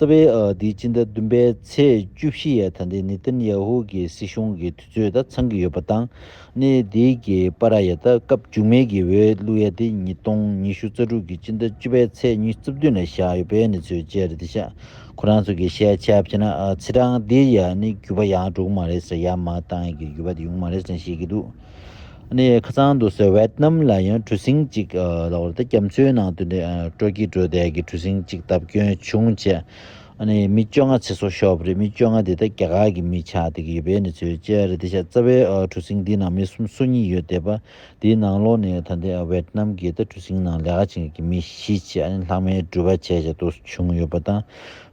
རྩ་བའི་འདིའི་སྤྱི་ཟླ་བདུན་པའི་ཚེས་བཅུ་བཞི་ཡའི་ད་ལྟའི་ནེ་ཐན་ཡ་ཧུ་གྱི་སྲིད་གཞུང་གི་དུས་ཚོད་དང་འཚང་གི་ཡོད་པ་དང། གནས་འདི་གི་པ་ར་ཡ་ད་སྐབས་མཇུག་མེད་ཀྱི་འོས་བླུགས་ཡ་དེ་ཉིས་སྟོང་ཉི་ཤུ་རྩ་དྲུག་གི་སྤྱི་ཟླ་བཅུ་པའི་ཚེས་ཉིས་བཅུ་བདུན་ལ་བཞག་ཡོད་པའི་གནས་ཚུལ་བཅས་རེད་ཤག་ཁོ་རང་ཚོ་གི་ཤེས་ཆ་ཕྱེ་ན་ཚེས་གྲངས་འདི་ཡ་ནི་གུས་པ་ཡང་དྲུག་མ་རེད་ཟེར་ཡ་མ་གཏང་གི་གུས་པ་དེ་ཡུང་མ་རེད་ཟེར་ཤེས་ཀྱི་འདུག་གནས་ཡའི་ཁ་ཚང་དུ་སོ་ཝེད་ནམ་ལ་ཡང་གྲུ་གཟིངས་གཅིག་ལོག་རེད་དེ་སྐམ་མཚོའི་ནང་དུ་སྤྲོ་སྐྱིད་བྲོ་བརྡལ་གྱི་གྲུ་གཟིངས་གཅིག་བཏབ་སྐྱོན་བྱུང་རྗེས་མི་བཅོ་ལྔ་ཚེ་སྲོག་ཤོར་བ་རེད་མི་བཅོ་ལྔ་དེ་དག་རྒྱ་གར་གྱི་མི་ཆགས་བསྡད་ཀྱི་ཡོད་པའི་གནས་ཚུལ་བཅས་རེད་དེ་ཤ་ཚ་བའི་གྲུ་གཟིངས་འདིའི་ནང་མི་གསུམ་སོ་གཉིས་ཡོད་བསྡད་པ་དེའི་ནང་ལོག་ནས་ད་ལྟའི་ཝེད་ནམ་གྱི་གྲུ་གཟིངས་ནང་ལས་ཀ་བྱེད་མཁན་གྱི་མི་བཞི་ཆེད་ལྷག་མའི་འགྲུལ་པ་བྱས་བྱས་ཏོ་བྱུང་ཡོད་པ་དང་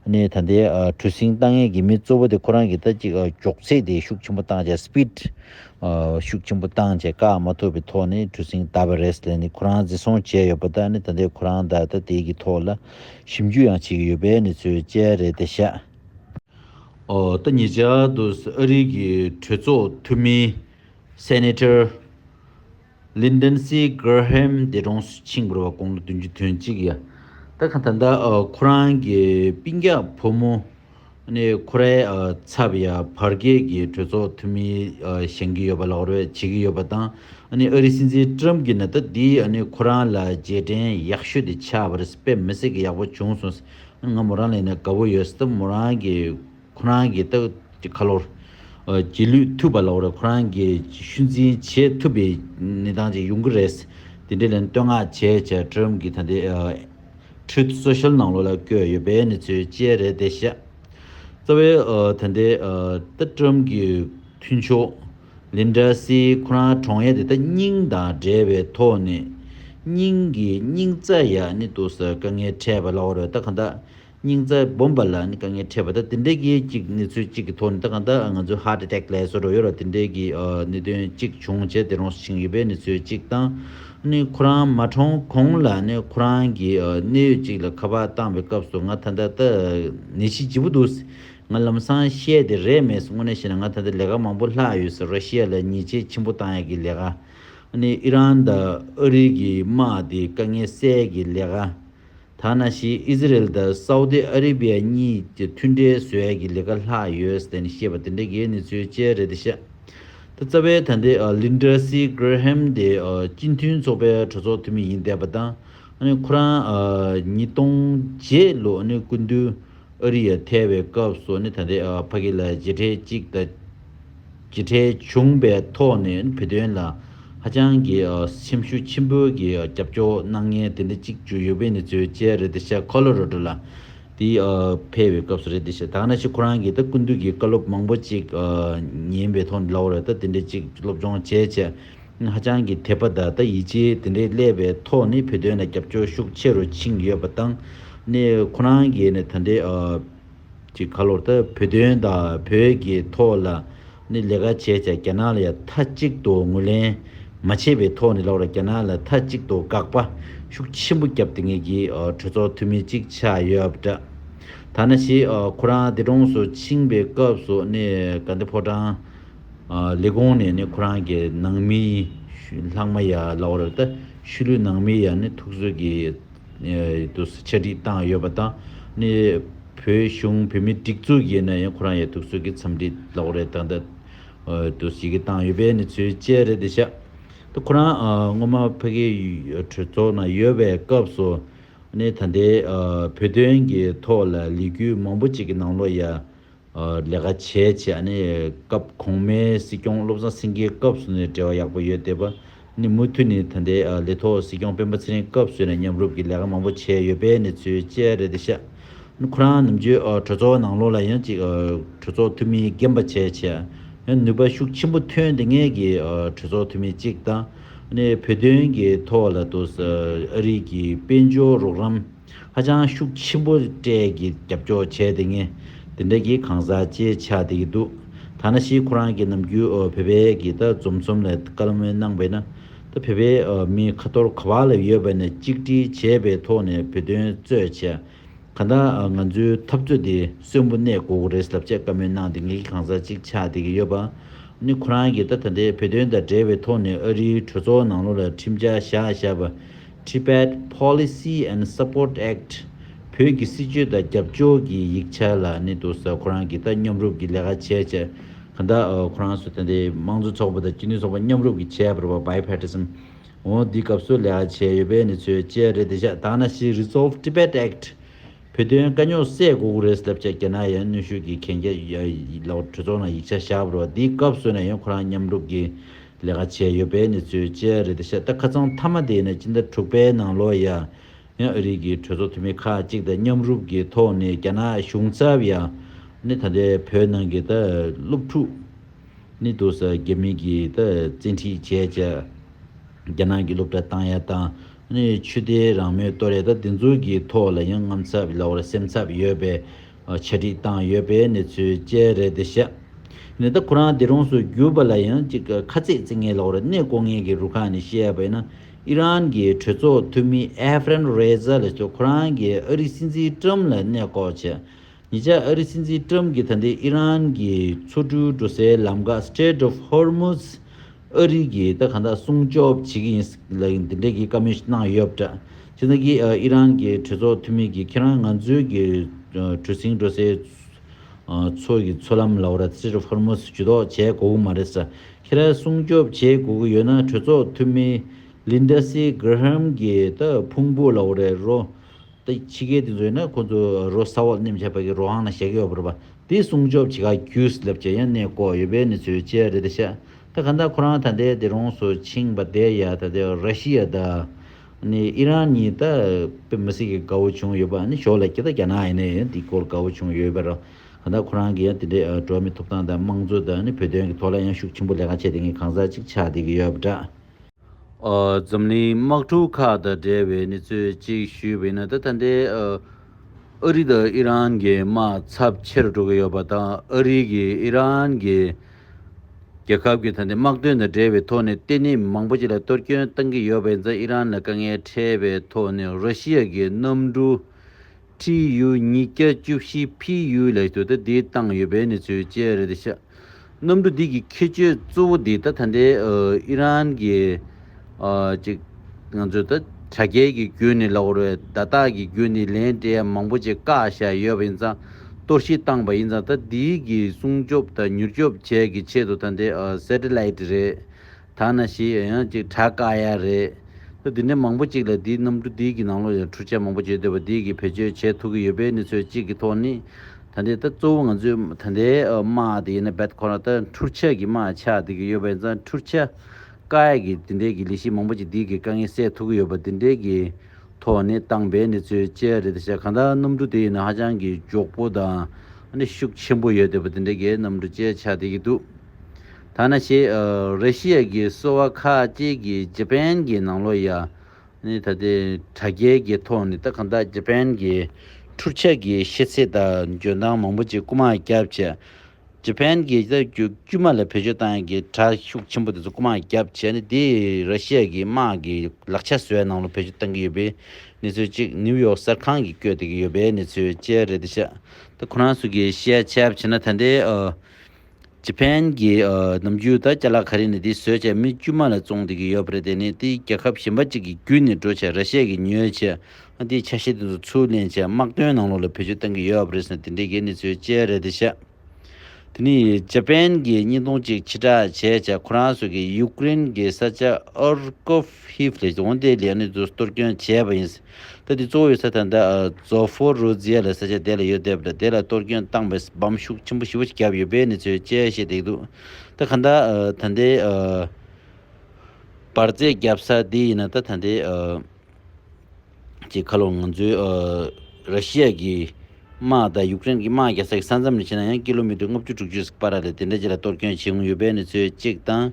ད་ལྟའི་གྲུ་གཟིངས་བཏང་མཁན་གྱི་མི་གཙོ་བོ་དེ་ཁོ་རང་གིས་ད་ཅིག་མགྱོགས་ཚད་དེ་ཤུགས་ཆེན་པོ་བཏང་རྗེས་སྤིད་ཤུགས་ཆེན་པོ་བཏང་བྱས་བཀག་མ་ཐུབ་པའི་ཐོག་ནས་གྲུ་གཟིངས་བཏབ་པ་རེད་ཟེར་ནས་ཁོ་རང་འཛིན་བཟུང་བྱས་ཡོད་པ་དག་ནི་ད་ལྟའི་ཁོ་རང་དག་ད་ལྟའི་གི་ཐོག་ལ་ཞིབ་འཇུག་ཡང་བྱེད་ཀྱི་ཡོད་པའི་ནི་ཚོའི་དཔྱད་རེད་དེ་ཤ། འོ་ད་ངེད་ཅག་ཏུ་ཨ་རིའི་གི་གྲོས་ཚོགས་འཐུས་མི། Senator། Lyndon C. Graham འདས་གྲོངས་སུ་ཕྱིན་དགོས་པ་དགུང་ལོ་བདུན་ཅུ་དོན་གཅིག་ཡ་ད་ག་ད་ལྟ་ཁོ་རང་གི་སྤིན་རྒྱག་ཕོ་མོ་ནི་ཁོ་རའི་ཚབ་ཡ་བར་རྒྱལ་གྱི་གྲོས་ཚོགས་འཐུས་མི་བཞེངས་ཀྱི་ཡོད་པ་ལ་ཧོར་བས་བྱེད་ཀྱི་ཡོད་པ་དང་ཨ་རི་སྲིད་འཛིན Trump གྱི་ན་ད་འདི་ཁོ་རང་ལ་རྗེས་དྲན་ཡག་ཤོས་དེ་ཆགས་པ་རེད་དཔེ་མི་སྲིད་ཀྱི་ཡག་པོ་བྱུང་སོང་ང་མོ་རང་ལས་ནས་དགའ་བོ་ཡོད་སྟབས་མོ་རང་གི། ཁོ་རང་གི་སྟག་གི་ཁ་ལོར། རྗེས་ལུས་ཐུབ་པ་ལ་འོར་ཁོ་རང་གི་ཤུལ་འཛིན་བྱེད་ཐུབ་པའི་གནས་སྟངས་ཅིག་ཡོང་གི་རེད། དེ་འབྲེལ་བསྟོད་བསྔགས་བྱས་བྱས་ཁྲོད་རིམ་གྱིས་ད་ལྟའི Truth Social ནང་ལོགས་ལ་བསྐྱོད་ཡོད་པའི་གནས་ཚུལ་བཅས་རེད་དེ་བཤད། རྩ་བའི་ད་ལྟའི་སྟག་ཁྲོམ་གྱི་མཐུན་ཕྱོགས Linda Hsi ཁོ་རང་གྲོང་ཡ་དེ་དག་སྙིང་དང་འབྲེལ་བའི་ཐོག་ནས་སྙིང་གི་སྙིང་རྩ་ཡག་ནི་འདུག་ཟེར་དཀའ་ངལ་འཕྲད་པ་ལ་འོར་སྟག་གང་དག་སྙིང་རྩ་སྦོམ་པ་ལ་ནི་དཀའ་ངལ་འཕྲད་པ་དང་དེ་འབྲེལ་གྱི་གཅིག་གནས་ཚུལ་གཅིག་གི་ཐོག་ནས་ད་གང་ལྟར་ང་ཚོའི Heart Attack ལས་སོགས་རོ་ཡོར་བ་དེ་འབྲེལ་གྱི་གནད་དོན་གཅིག་བྱུང་བྱས་ཏེ་རོང་སུ་ཕྱིན་ཡོད་པའི་གནས་ཚུལ་གཅིག་དང། ནི་ཁོ་རང་མ་གྲོངས་གོང་ལ་ནི་ཁོ་རང་གི་གནད་ཡོད་ཅིག་ལ་ཁ་པར་བཏང་བའི་སྐབས་སུ་ང་ད་ལྟ་ད་ནད་གཞི་ལྗིད་པོ་འདུག་ཟེར། ང་ལམ་སང་བཤད་དེ་རེད་མེད་སོང་དངོས་གནས་བཤད་ན་ང་ད་ལྟ་ལས་ཀ་མང་པོ་ལྷག་ཡོད་ཟེར་རོ་ཤི་ཡ་ལ་ཉེས་ཆད་ཆེན་པོ་བཏང་ཡ་གི་ལས་ཀ། ནི་ཨི་རན་དང་ཨ་རི་གི་དམག་དེའི་དཀའ་ངལ་སེལ་གི་ལས་ཀ། ཐ་ན་ཞི་ཨི་ཟི་རེལ་དང་སའུ་ཏི་ཨ་རི་བྷི་ཡ་གཉིས་ཀྱི་མཐུན་འབྲེལ་བཟོས་ཡ་གི་ལི་ཁ་ལྷག་ཡོད་ཟེར་ནས་བཤད་པ་དེ་འདྲ་གའི་གནས་ཚུལ་བཅས་རེད་འདི་ཤག་ད་རྩ་བའི་ད་འདི་ལིན་ཏྲ་སི་ཀེར་ཧེམ་དེ་སྤྱི་མཐུན་ཚོགས་པའི་གྲོས་ཚོགས་འཐུས་མི་ཡིན་བསྡད་པ་དང་ཁོ་རང་ཉིས་སྟོང་བརྒྱད་ལོ་སྐུ་མདུན་ཨ་རི་ཡ་ཐེ་བའི་སྐབས་སུ་ནི་ད་ལྟའི་ཕ་གི་ལ་བྱེ་ཁྲལ་གཅིག་དང་བྱེ་ཁྲལ་བྱུང་པའི་ཐོག་ནས་བོད་དོན་ལ་ཧ་ཅང་གི་སེམས་ཤུགས་ཆེན་པོའི་གི་རྒྱབ་སྐྱོར་གནང་མཁན་དེ་འདྲ་གཅིག་བྱུ་ཡོད་པའི་ནི་ཚོའི་མཇལ་རེད་ད་ཤ་ཁོ་ལོ་རོ་ཏོ་ལ་དེ་ཕེ་བའི་སྐབས་སུ་རེད་ད་ཤ་དག་ན་ཤི་ཁོ་རང་གི་ད་ཀུན་དུ་གི་བཀའ་སློབ་མང་པོ་གཅིག་ཉན་པའི་ཐོག་ནས་ལ་བ་རེད་ད་དེ་འདྲ་གཅིག་སློབ་སྦྱོང་བྱས་བྱས། ཧ་ཅང་གི་དད་པ་ད་ལྟ་ཡིད་ཆེས་དེ་འདྲའི་སླེབས་པའི་ཐོག་ནས་བོད་དོན་ལ་རྒྱབ་སྐྱོར་ཤུགས་ཆེ་རུ་ཕྱིན་ཡོད་པ་དང། ནས་ཁོ་རང་གིས་ནས་ད་འདྲའི་ཀྱི་ཁ་ལོར་དུ་བོད་དོན་དང་བོད་ཀྱི་ཐོག་ལ་ནས་ལས་ཀ་བྱས་ཀྱང་རྒྱ་ནག་ལ་ཡང་མཐའ་གཅིག་ཏུ་ངོས་ལེན་མ་བྱས་པའི་ཐོག་ནས་ལོག་ར་རྒྱ་ནག་ལ་མཐའ་གཅིག་ཏུ་དགག་པ་ཤུགས་ཆེན་པོ་བརྒྱབ་དེ་ངེད་ཀྱི་གྲོས་ཚོགས་འཐུས་མི་གཅིག་ཆགས་ཡོད་པ་འདྲ། ཐ་ན་ཞིག་ཁོ་རང་འདས་གྲོངས་སུ་ཕྱིན་པའི་སྐབས་སུ་ནས་ག་འདི་ཕོ་བྲང། ལས་གོང་ནས་ནི་ཁོ་རང་གི་ནང་མིའི་ལྷག་མ་ཡ་ལ་བ་རོད་ད་ཤུལ་ལུས་ནང་མི་ཡ་ནི་ཐུགས་གསོས་ཀྱི་ཏུ་ས་ཆ་སྒྲིག་སྟངས་ཡོད་པ་དང་ནི་བོད་གཞུང་བོད་མི་སྒྲིག་འཛུགས་ཀྱི་ནི་ཁོ་རང་ཡ་ཐུགས་གསོས་ཀྱི་འཚམས་འདྲི་ལ་བ་རེད་ད་ད་ཏུ་ཞིག་གི་སྟངས་ཡོད་པས་ནི་ཚུལ་དཔྱད་རེད་ད་ཤ་ད་ཁོ་རང་སྔོན་མ་ཕ་གི་གྲོས་ཚོགས་ནང་ཡོད་པའི་སྐབས་སུ་ནི་ད་ལྟའི་བོད་དོན་གྱི་ཐོག་ལ་ལས་གུས་མང་པོ་ཅིག་གི་ནང་ལོ་ཡ་ལས་ཀ་བྱས་བྱས་ཨ་ནི་སྐབས་གོང་མའི་སྲིད་སྐྱོང་བློ་བཟང་སེང་གེའི་སྐབས་སུ་ནི་བྲེལ་བ་ཡག་པོ་ཡོད་བསྡད་པ་ནི་མུ་མཐུད་ནི་ད་ལྟའི་ལས་ཐོག་སྲིད་སྐྱོང་སྤེན་པ་ཚེ་རིང་སྐབས་སུ་ནི་མཉམ་རུབ་ཀྱི་ལས་ཀ་མང་པོ་བྱས་ཡོད་པའི་གནས་ཚུལ་བཅས་རེད་བསྡད་ཤག་ནི་ཁོ་རང་ནམ་རྒྱུན་གྲོས་ཚོགས་ནང་ལོག་ལ་ཡང་ཅིག་གྲོས་ཚོགས་འཐུས་མི་རྒན་པ་བྱས་བྱས་ཨ་ནི་ནུས་པ་ཤུགས་ཆེན་པོ་ཐོན་ཏེ་ངེད་ཀྱི་གྲོས་ཚོགས་འཐུས་མི་གཅིག་དང་ཨ་ནི་བོད་དོན་གྱི་ཐོག་ལ་དུ་ཨ་རིག་གི་དཔལ་འབྱོར་རོགས་རམ། ཧ་ཅང་ཤུགས་ཆེན་པོ་སྤྲད་ཀྱི་རྒྱབ་སྐྱོར་བྱས་དེ་ངས་དེ་འདྲ་གི་གང་ཟག་ཅེས་ཆ་འདེད་ཀྱི་འདུག་ཐ་ན་ཤི་ཁོ་རང་གི་ནམ་རྒྱུན་བོད་པའི་གི་ད་རྫོམ་རྩོམ་ལས་བཀའ་ལམ་མོལ་གནང་བས་ན་ད་བོད་པའི་མི་ཁ་ཐོར་ག་བ་ལ་ཡོད་པ་ནས་གཅིག་སྒྲིལ་བྱས་པའི་ཐོག་ནས་བོད་དོན་རྩོད་བྱས་ག་ད་ང་ཚོའི་འཐབ་རྩོད་དེ་གསོན་པོ་གནས་དགོས་གི་རེད་ཟབ་ཆ་བཀའ་མོལ་གནང་དེ་ངས་གི་གང་ཟག་ཅིག་ཆ་འདེད་ཀྱི་ཡོད་པ་ནི་ཁོ་རང་གི་ད་ད་ལྟའི་བོད་དོན་དང་འབྲེལ་བའི་ཐོག་ནས་ཨ་རིའི་གྲོས་ཚོགས་ནང་ལོ་ལ་ཁྲིམས་འཆར་བཞག་བཞག་པ Tibet Policy and Support Act། བོད་ཀྱི་སྲིད་བྱུས་དང་རྒྱབ་ཕྱོགས་ཀྱི་ཡིག་ཆ་ལ་ནི་འདུག་ས་ཁོ་རང་གིས་ད་མཉམ་རུབ་ཀྱི་ལས་ཀ་བྱས་བྱས་ག་ད་ཁོ་རང་ཚོ་དེ་འདི་དམངས་གཙོ་ཚོགས་པ་དང་སྤྱི་མཐུན་ཚོགས་པ་མཉམ་རུབ་ཀྱི་བྱས་པར་བ Bipartism འོ་འདི་སྐབས་སུ་ལས་ཀ་བྱས་ཡོད་པས་ནི་ཚོས་བཅད་རེད་དེ་ཤ་ད་ན་ཤི Resolve Tibet Act བོད་དོན་དཀའ་རྙོག་སེལ་དགོས་གུ་རེད་སླབ་བྱས་རྒྱ་ནག་ཡང་གནོན་ཤུགས་ཀྱི་གན་རྒྱ་ཡོད་ལ་གྲོས་ཚོགས་ནང་ཡིག་ཆ་བཞག་པར་བ་འདི་སྐབས་སུ་ནས་ཡང་ཁོ་རང་མཉམ་རུབ་ཀྱི། ལས་ཀ་བྱས་ཡོད་པའི་གནས་ཚུལ་བཅས་རེད་དེ་ཤ་སྟག་ཁ་ཚང་མཐའ་མ་དེ་ནི་སྤྱི་ཟླ་དྲུག་པའི་ནང་ལོ་ཡ་ཡང་ཨ་རིག་གི་གྲོས་ཚོགས་འཐུས་མི་ཁག་ཅིག་དང་མཉམ་རུབ་ཀྱི་ཐོག་ནས་རྒྱ་ནག་གཞུང་ཚབ་ཡ་ནི་ད་ལྟའི་བོད་ནང་གི་ད་སློབ་ཕྲུག་ནི་འདུག་ས་རྒྱ་མི་གི་ད་བཙན་ཁྲིད་བྱས་བྱས་རྒྱ་ནག་གི་སློབ་གྲྭ་བཏང་ཡ་དང་ནི་ཆུ་དེ་རང་མོས་ཏོ་རེད་ད་འདི་ཚོ་གི་ཐོག་ལ་ཡང་རྔམ་ཚབ་ལ་བར་སེམས་ཚབ་ཡོད་པའི་ཆ་སྒྲིག་བཏང་ཡོད་པའི་གནས་ཚུལ་བཅས་རེད་དེ་བཤད། ནད་བདག་ཁོ་རང་སྡེ་རོང་སུ་གྱུར་པ་ལ་ཡང་གཅིག་ཁ་རྩེད་རྩེ་ངེས་ལོག་རེ་གནས་སྐོར་ངེས་ཀྱི་རུ་ཁག་ནས་བཤད་པ་ཡིན་ན་ཨི་རན་གྱི་གྲོས་ཚོགས་འཐུས་མི་ཨེ་ཧྥེ་རན་རེ་ཛ་ལེ་ཏོ་ཁོ་རང་གིས་ཨ་རིའི་སྲིད་འཛིན་ཀྲུམ་ལ་གནས་སྐོར་བྱས། ཉེ་ཆར་ཨ་རིའི་སྲིད་འཛིན་ཀྲུམ་གྱིས་ད་ལྟའི་ཨི་རན་གྱི་མཚོ་གྲུའི་འགྲོ་སའི་ལམ་འགག Strait of Hormuz། ཨ་རི་གིས་ད་ག་འདྲ་སྲུང་སྐྱོབ་བྱེད་ཀྱི་ཡིན་ལ་འདི་འདྲའི་གི་བཀའ་མོལ་གནང་ཡོད་པ་འདྲ། ཕྱི་ཟླ་གིས་ཨི་རན་གྱི་གྲོས་ཚོགས་འཐུས་མི་གིས་ཁྱེད་རང་ང་ཚོའི་གི་གྲུ་གཟིངས་འགྲོ་སའི་མཚོ་གི་མཚོ་ལམ་ལའོ་ར་སིར་ཧོར་མུ་སི་ཇུས་གཏོགས་བྱས་དགོས་གི་མ་རེད་ས་ཁྱེད་རང་སྲུང་སྐྱོབ་བྱེད་དགོས་གི་ཡོད་ན་གྲོས་ཚོགས་འཐུས་མི་ལིན་ད་སི་གྷི་ར་ཧམ་གིས་ད་ཕུང་པོ་ལའོ་རའི་རོ་ད་ཕྱི་རྒྱལ་དེ་ཚོ་ཡིན་ན་ཁོ་ཚོ་རོ་ས་འོག་ནེམ་བྱ་བ་གི་རོ་ཧང་ན་བཞག་གི་ཡོད་པ་རོ་པ་དེ་སྲུང་སྐྱོབ་བྱེད་ག་གུས་ལབ་བྱ་ཡ་ནས་ལྐོག་ཡོད་པའི་ནི་ཚོའི་ལྕེ་ཡ་རེད་ད་ཤ། ད་ག་འདྲ་ཁོ་རང་ད་ལྟའི་སྡེ་རོང་སུ་ཕྱིང་པ་དེ་ཡ་ད་ལྟའི་ར་ཤི་ཡ་ད་ནི་ཨི་རན་གཉིས་ད་པེ་མི་སི་ཀི་དགའ་བོ་བྱུང་ཡོད་པ་ནི་ཞོག་ལ་ཀྱི་ད་རྒྱ་ནག་ཡ་ནི་འདི་སྐོར་དགའ་བོ་བྱུང་ཡོད་པའི་ར་ག་འདྲ་ཁོ་རང་གི་ཡ་དེ་འདྲའི་འགྲོ་མི་ཐུབ་སྟངས་ད་དམངས་གཙོ་ད་ནི་བོད་དོན་གི་ཐོག་ལ་ཡ་ཤུགས་ཆེན་པོ་ལས་ཀ་བྱས་དེ་གཉིས་གང་ཟག་ཅིག་ཆགས་བསྡད་ཀྱི་ཡོད་པ་འདྲ། འཛམ་གླིང་དམག་འཁྲུག་ཁག་དང་འབྲེལ་བའི་གནས་ཚུལ་གཅིག་ཞུས་པ་ཡིན་ན་ད་ལྟ་འདི་ཨ་རི་དང་ཨི་རན་གྱི་དམག་ཚབས་ཆེ་རུ་འགྲོ་གི་ཡོད་པ་དང་ཨ་རི་གིས་ཨི་རན་གྱི་རྒྱལ་ཁབ་ཀྱི་ད་ལྟའི་དམག་དོན་དང་འབྲེལ་བའི་ཐོག་ནས་ལྟེ་གནས་མང་པོ་ཅིག་ལ་གཏོར་སྐྱོན་བཏང་གི་ཡོད་པ་ཡིན་ཙང་ཨི་རན་ལ་དཀའ་ངལ་འཕྲད་པའི་ཐོག་ནས་རོ་ཤི་ཡ་གྱི་གནམ་གྲུ་ཁྲི་ཡུ་ཉིས་བརྒྱ་བཅུ་བཞི་ཕི་ཡུའི་ལས་ཆོད་ད་དེའི་བཏང་ཡོད་པའི་གནས་ཚུལ་བཅས་རེད་དེ་ཤག་གནམ་གྲུ་འདི་གི་ཁྱད་ཆོས་གཙོ་བོ་འདི་ད་ད་ལྟའི་ཨི་རན་གྱི་ཅིག་ང་ཚོས་ད་དྲ་རྒྱའི་གི་རྒྱུད་ནས་ལ་བོར་བའི་བརྡ་རྟགས་གི་རྒྱུད་ནས་ལན་འབྲས་མང་པོ་ཅིག་བཀག་བཞག་ཡོད་པ་ཡིན་ཙང་གཏོར་བཤིག་བཏང་པ་ཡིན་ཙང་ད་འདི་གི་སྲུང་སྐྱོབ་དང་མྱུར་སྐྱོབ་བཅས་གི་ཆེད་དུ་ད་དེ Satellite རེད་ད་ན་ཞེས་ཡང་ཡང་ཅིག་གྲགས་དཀའ་ཡ་རེད། ལྷོད་འདི་འདྲའི་མང་པོ་ཅིག་ལ་འདིའི་གནམ་གྲུ་འདི་གི་ནང་ལོགས་ཡང་འཕྲུལ་ཆས་མང་པོ་བརྗོད་འདོད་པ་འདི་གི་བེད་སྤྱོད་བྱེད་ཐུབ་ཀྱི་ཡོད་པའི་གནས་ཚོད་གཅིག་གི་ཐོག་ནི། ད་འདི་ལྟ་གཙོ་བོ་ང་ཚོས་ད་ལྟའི་དམག་དེ་ཡིན་ན་བེད་ཁོ་ན་ལྟ་འཕྲུལ་ཆས་ཀྱི་དམག་ཆགས་བསྡད་ཀྱི་ཡོད་པ་ཡིན་ཙང་འཕྲུལ་ཆས་དཀའ་ཡ་གི་འདི་འདྲའི་གི་ལས་གཞི་མང་པོ་ཅིག་འདི་གི་དཀའ་ངལ་སེལ་ཐུབ་ཀྱི་ཡོད་པ་འདི་འདྲའི་གི་ཐོག་ནི་བཏང་བའི་གནས་ཚོད་གཅལ་རེད་ད་ཆ་གང་ལྟར་གནམ་གྲུ་དེ་ཡིན་ན་ཧ་ཅང་གི་མགྱོགས་པོ་དང། ནི་ཤུགས་ཆེན་པོ་ཡོད་འདོད་པ་འདི་འདྲའི་གི་གནམ་གྲུ་གཅལ་ཆགས་བསྡད་ཀྱི་འདུག་ཐ་ན་ཞེས་རེ་ཤི་ཡཱ་གི་སོ་བ་ཁ་ཅིག་གིས་ཇི་པན་གྱི་ནང་ལོ་ཡ་ནི་ད་ལྟའི་དྲ་རྒྱའི་གི་ཐོག་ནས་ད་གང་དག་ཇི་པན་གྱི་འཕྲུལ་ཆས་ཀྱི་ཤེས་ཚད་དང་འཇོན་ཐང་མང་པོ་ཅིག་རྐུ་མ་བརྒྱབ་བྱས། ཇི་པན་གྱི་ད་གུ་དཀྱུས་མ་ལ་བེད་སྤྱོད་བཏང་ཡས་ཀྱི་དྲ་ཤུགས་ཆེན་པོ་དེ་ཚོ་རྐུ་མ་བརྒྱབ་བྱས་ནས་དེ་རེ་ཤི་ཡཱ་གི་དམག་གི་ལག་ཆ་བཟོ་བའི་ནང་ལོ་བེད་སྤྱོད་བཏང་གི་ཡོད་པའི་གནས་ཚུལ་ཅིག་ནིའུ་ཡོག་གསར་ཁང་གིས་བཀོད་དེ་གི་ཡོད་པའི་གནས་ཚུལ་བཅས་རེད་དེ་ཤ་ད་ཁོ་རང་ཚོ་གི་ཤེས་བྱས་བྱས་ན་ད་ལྟའི་ཇེ་ཕན་གྱི་ནམ་རྒྱུན་ད་སྐྱ་ལག་གྷ་རེ་ནི་དེའི་བཟོས་བྱས་མི་དཀྱུས་མ་ལ་བཙོང་བསྡད་ཀྱི་ཡོད་པ་རེད་དེ་ནི་དེའི་རྒྱལ་ཁབ་གཞན་པ་ཅིག་གི་བརྒྱུད་ནས་འགྲོ་བྱེད་ར་ཤས་ཀྱི་ཉོས་བྱེད་ཨ་དེའི་ཆ་ཤས་དེ་ཚོ་ཚུར་ལེན་བྱེད་དམག་དོན་ནང་ལོག་ལ་བེད་སྤྱོད་གཏང་གི་ཡོད་པ་རེད་ཟེར་ན་དེ་འདྲའི་གེ་ནི་ཚོའི་དཔྱད་རེད་དེ་བཤད། དེ་ནི་ཇེ་ཕན་གྱི་སྙིང་སྟོང་ཅིག་ཕྱི་བསྒྲགས་བྱས་བྱས་ཁོ་རང་ཚོ་གི་ཡུཀ་རེན་གྱི་ས་ཆ་ཨོར་ཀོབ་ཧིབ་ལས་འོངས་ཏེ་ལི་ཨ་ནི་ཛུ་སྟོར་སྐྱོན་བྱས་པ་ཡིན། ད་དེ་གཙོ་བོ་ཡོད་ས་དང་ད་ཛོ་ཧྥོ་རོ་ཛི་ཡ་ལ་ས་ཆ་དེ་ལ་ཡོད་བསྡད་པ་དང་དེ་ལ་གཏོར་སྐྱོན་བཏང་པས་སྦམ་ཤུགས་ཆེན་པོ་བཞི་བོ་ཅིག་བརྒྱབ་ཡོད་པས་ནི་ཚོའི་དཔྱད་ཤེས་བརྡེག་འདུག་ད་ག་འདྲ་ད་ལྟའི་བར་རྫས་བརྒྱབ་ས་དེ་ཡིན་ན་ད་ད་ལྟའི་ཀྱི་ཁ་ལོ་ང་ཚོའི་ར་ཤི་ཡ་གི་དམག་དང་ཡུཀ་རེན་གྱི་དམག་རྒྱ་ས་ཀྱི་ས་མཚམས་ལས་ཕྱིན་ན་ཡང་ཀི་ལོ་མི་ཏུར་ལྔ་བཅུ་དྲུག་ཅུ་ཟིག་པ་ར་ལས་དེ་འདྲ་ཅིག་ལ་གཏོར་སྐྱོན་བྱེད་མགོ་ཡོད་པས་ནི་ཚོའི་གཅིག་དང།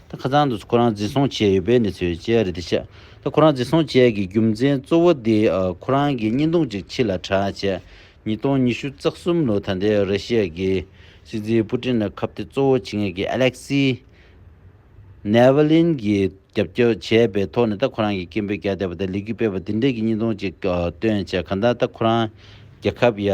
ད་ཁ་ཚང་དུ་ཁོ་རང་འཛིན་བཟུང་བྱས་ཡོད་པའི་གནས་ཚུལ་བཅས་རེ་བདེ་ཆེ། ད་ཁོ་རང་འཛིན་བཟུང་བྱས་ཀྱི་རྒྱུ་མཚན་གཙོ་བོ་དེ་ཁོ་རང་གི་བརྙན་ཐུང་ཅིག་ཕྱི་ལ་གྲགས་བྱས། ཉིས་སྟོང་ཉི་ཤུ་རྩ་གསུམ་ལོ་ད་ལྟའི་རེ་ཤེ་ཡའི་སྲིད་འཛིན་པུ་ཀྲིན་ལ་ཁབ་ཐེ་གཙོ་བོ་བྱེད་མཁན་གྱི་ཨ་ལེག་སི། ནེ་ཝེ་ལིན་གྱིས་རྒྱབ་སྐྱོར་བྱས་པའི་ཐོག་ནས་ད་ཁོ་རང་གི་སྐད་འབོད་རྒྱག་བསྡད་པ་དང་ལི་གུས་སྤེལ་བ་དེ་འདྲ་གྱི་བརྙན་ཐུང་ཅིག་བཏོན་བྱས་གང་ལྟར་ད་ཁོ་རང་རྒྱལ་ཁབ་ཡ་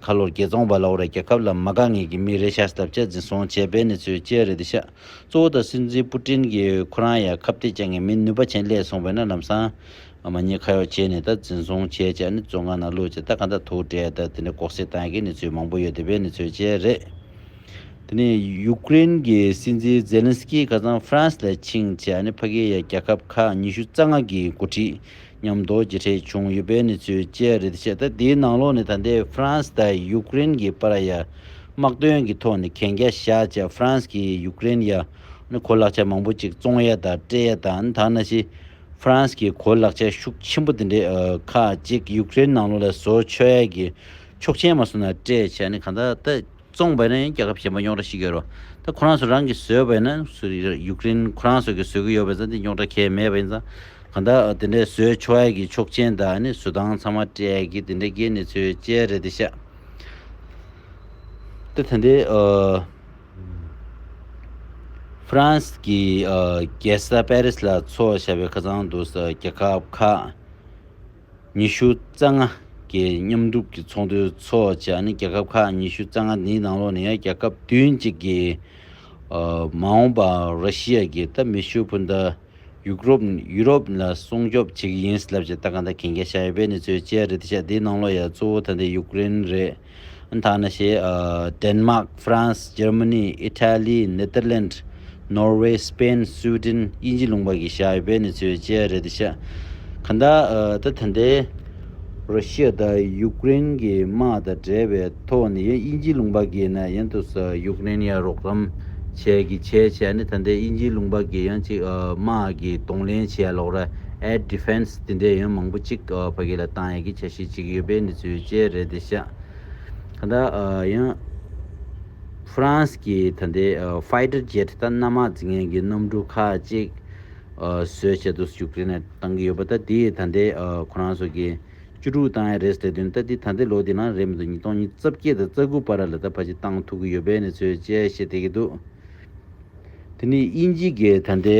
གྷ་ལོར་རྒྱལ་བཙོང་བ་ལའོ་རའི་རྒྱལ་ཁབ་ལ་མ་དགའ་ངེས་ཀྱི་མི་རེ་ཤ་སྟབས་ཆགས་འཛིན་བཟུང་བྱས་པའི་གནས་ཚུལ་བཅས་རེ་བདེ་ཆེ། གཙོ་བོ་དང་སྲིད་འཛིན་པུ་ཀྲིན་གྱིས་ཁོ་རང་ཡང་ཁ་བརྡའི་བཅའ་ངན་མིན་ནུས་པ་ཆེན་སླད་སོང་བས་ན་ལམ་སང་མ་ཉེས་ཁ་ཡོག་བྱས་ནས་ད་འཛིན་བཟུང་བྱས་བྱས་ནས་བཙོན་ཁང་ནང་བླུགས་བྱས་ད་གང་ད་དུག་སྤྲད་ད་དེ་འདྲ་གོག་བསྲེ་བཏང་གི་གནས་ཚུལ་མང་པོ་ཡོད་དེ་བས་ནས་ཚོད་བྱས་རེད། དེ་ནས་ཡུག་ཀེ་རེན་གྱི་སྲིད་འཛིན་ཛེ་ལན་སི་ཀི་ཁ་སང་ཧྥ་རན་སི་ལ་ཕྱིན་བྱས་ནས་ཕ་གི་ཡ་རྒྱལ་ཁབ་ཁག་ཉི་ཤུ་རྩ་ལྔ་གི་འགོ་ཁྲིད་ཉམས་རྟོགས་ཀྱི་ཁྲིད་བྱུང་ཡོད་པའི་གནས་ཚུལ་བཅས་རེད་བཤད་ད་དེའི་ནང་ལོགས་ནས་ད་ལྟའི་ཧྥ་རན་སི་དང་ཡུ་ཀེ་རེན་གྱི་པར་ཡ་དམག་དོན་གྱི་ཐོག་ནས་གན་རྒྱ་བཞག་བྱས་ཧྥ་རན་སི་གྱིས་ཡུ་ཀེ་རེན་ཡ་ནི་གོ་ལག་ཆ་མང་པོ་ཅིག་བཙོང་ཡ་དང་སྤྲད་ཡ་དང་ད་ན་ཤི་ཧྥ་རན་སི་གྱི་གོ་ལག་ཆ་ཤུགས་ཆེན་པོ་དེ་འདྲས་ཁག་ཅིག་ཡུ་ཀེ་རེན་ནང་ལོགས་ལ་བཟོ་ཆོག་ཡ་གྱི་ཆོག་མཆན་མ་བཟོ་ན་སྤྲད་བྱས་ནི་གང་ད་ལྟ། བཙོངས་པས་ན་ཡང་རྒྱལ་ཁབ་གཞན་པ་རྙོག་དྲ་ཞིག་ཡོད་རོ། ད་ཁོ་རང་ཚོ་རང་གིས་བཟོས་པས་ན་ཡུག་རེན་ཁོ་རང་ཚོ་གིས་བཟོས་ཀྱི་ཡོད་པས་ན་དེ་རྙོག་དྲ་གལ་མེད་པ་ཡིན་ཙང། གང་ལྟར་དེ་འདྲའི་བཟོས་ཆོག་ཡ་གི་ཆོག་མཆན་དག་ནི་བཟོ་སྟངས་ཚང་མ་སྤྲད་ཀྱི་དེ་འདྲའི་སྐད་ནི་ཚོའི་སྤྱད་རེད་དེ་ཤག་ད་ཐ་འདི་ཧྥ་རན་སི་གི་རྒྱལ་ས་པེ་རིས་ལ་འཚོ་བ་བྱ་བའི་ཁ་ཚང་འདུག་ས་རྒྱལ་ཁབ་ཁག། ཉི་ཤུ་རྩ་ལྔ་གྱི་མཉམ་སྒྲུབ་ཀྱི་ཚོགས་འདུའི་ཚོགས་བཅར་ནི་རྒྱལ་ཁབ་ཁག་ཉི་ཤུ་རྩ་ལྔ་འདིའི་ནང་ལོགས་ནས་རྒྱལ་ཁབ་བདུན་གཅིག་གི་མ་འོངས་པར་ར་ཤི་ཡ་གྱི་ད་མི་ཤུ་བྷུན་ད་ཡུག་རོབ་ཡུ་རོབ་ལ་སྲུང་སྐྱོབ་བྱེད་ཀྱི་ཡིན་ལབ་ཅེས་ད་ག་ད་གན་རྒྱ་བཞག་ཡོད་པའི་གནས་ཚུལ་བཅས་རེད་དེ་ཆ་འདིའི་ནང་ལོགས་ཡ་གཙོ་བོ་ད་ལྟའི་ཡུཀ་རེན་རེད། ཨན་ཐ་ནི་ཞེས། དན་མཱག། ཧྥ་རན་སི། ཇར་མ་ནི། ཨི་ཐ་ལི། ནེ་ཏར་ལན། ནོར་ཝེ། སི་པེན། སུའུ་ཏིན། དབྱིན་ཇི་ལུང་པ་གི་བྱ་ཡོད་པའི་གནས་ཚུལ་བཅས་རེད་དུ་ཆགས། གང་ལྟར། ད་ཐེངས་འདི། རོ་ཤི་ཡ་དང་ཡུཀ་རེན་གྱི་དམག་དང་འབྲེལ་བའི་ཐོག་ནས་ཡང་དབྱིན་ཇི་ལུང་པ་གིས་ནས་ཡང་དུ་སུ་ཡུཀ་རེན་ཡར་རོགས་རམ་བྱེད་ཀྱི་བྱས་བྱས་ནས་ད་ཐེངས་དབྱིན་ཇི་ལུང་པ་གིས་ཡང་ཅིག་དམག་གི་གདོང་ལེན་བྱས་ལོག་ར། Air Defense། དེ་འདྲའི་ཡོན་མང་པོ་གཅིག་ཕ་གི་ལ་བཏང་ཡ་གི་ཆ་ཤས་གཅིག་ཡོད་པའི་འདི་ཚོའི་བཅས་རེད་དེ་ཤ་ག་ད་ཡོན་ཧྥུ་རན་སི་གི་ད་ལྟའི Fighter Jet ད་གནམ་དམག་རྫི་ངན་གི་གནམ་གྲུ་ཁག་གཅིག་བཟོས་བྱས་དུས་སུ་ཡུཀ་རེ་ནས་བཏང་གི་ཡོད་པ་ད་འདི་ད་ལྟའི་ཁོ་རང་ཚོ་གི་བཅུ་དྲུག་བཏང་ཡ་རེད་ཟེར་དོན་ད་འདི་ད་ལྟའི་ལོ་དེ་ན་རེད་མི་འདུག་ཉིས་སྟོང་ཉིས་རྩ་བརྒྱད་དང་རྩ་དགུ་བར་ལ་ད་ཕ་གི་བཏང་ཐུག་གི་ཡོད་པའི་འདི་ཚོའི་བཅས་བཤད་བསྡད་ཀྱི་འདུག་དེ་ནི་དབྱིན་ཇི་གི་ད་ལྟའི།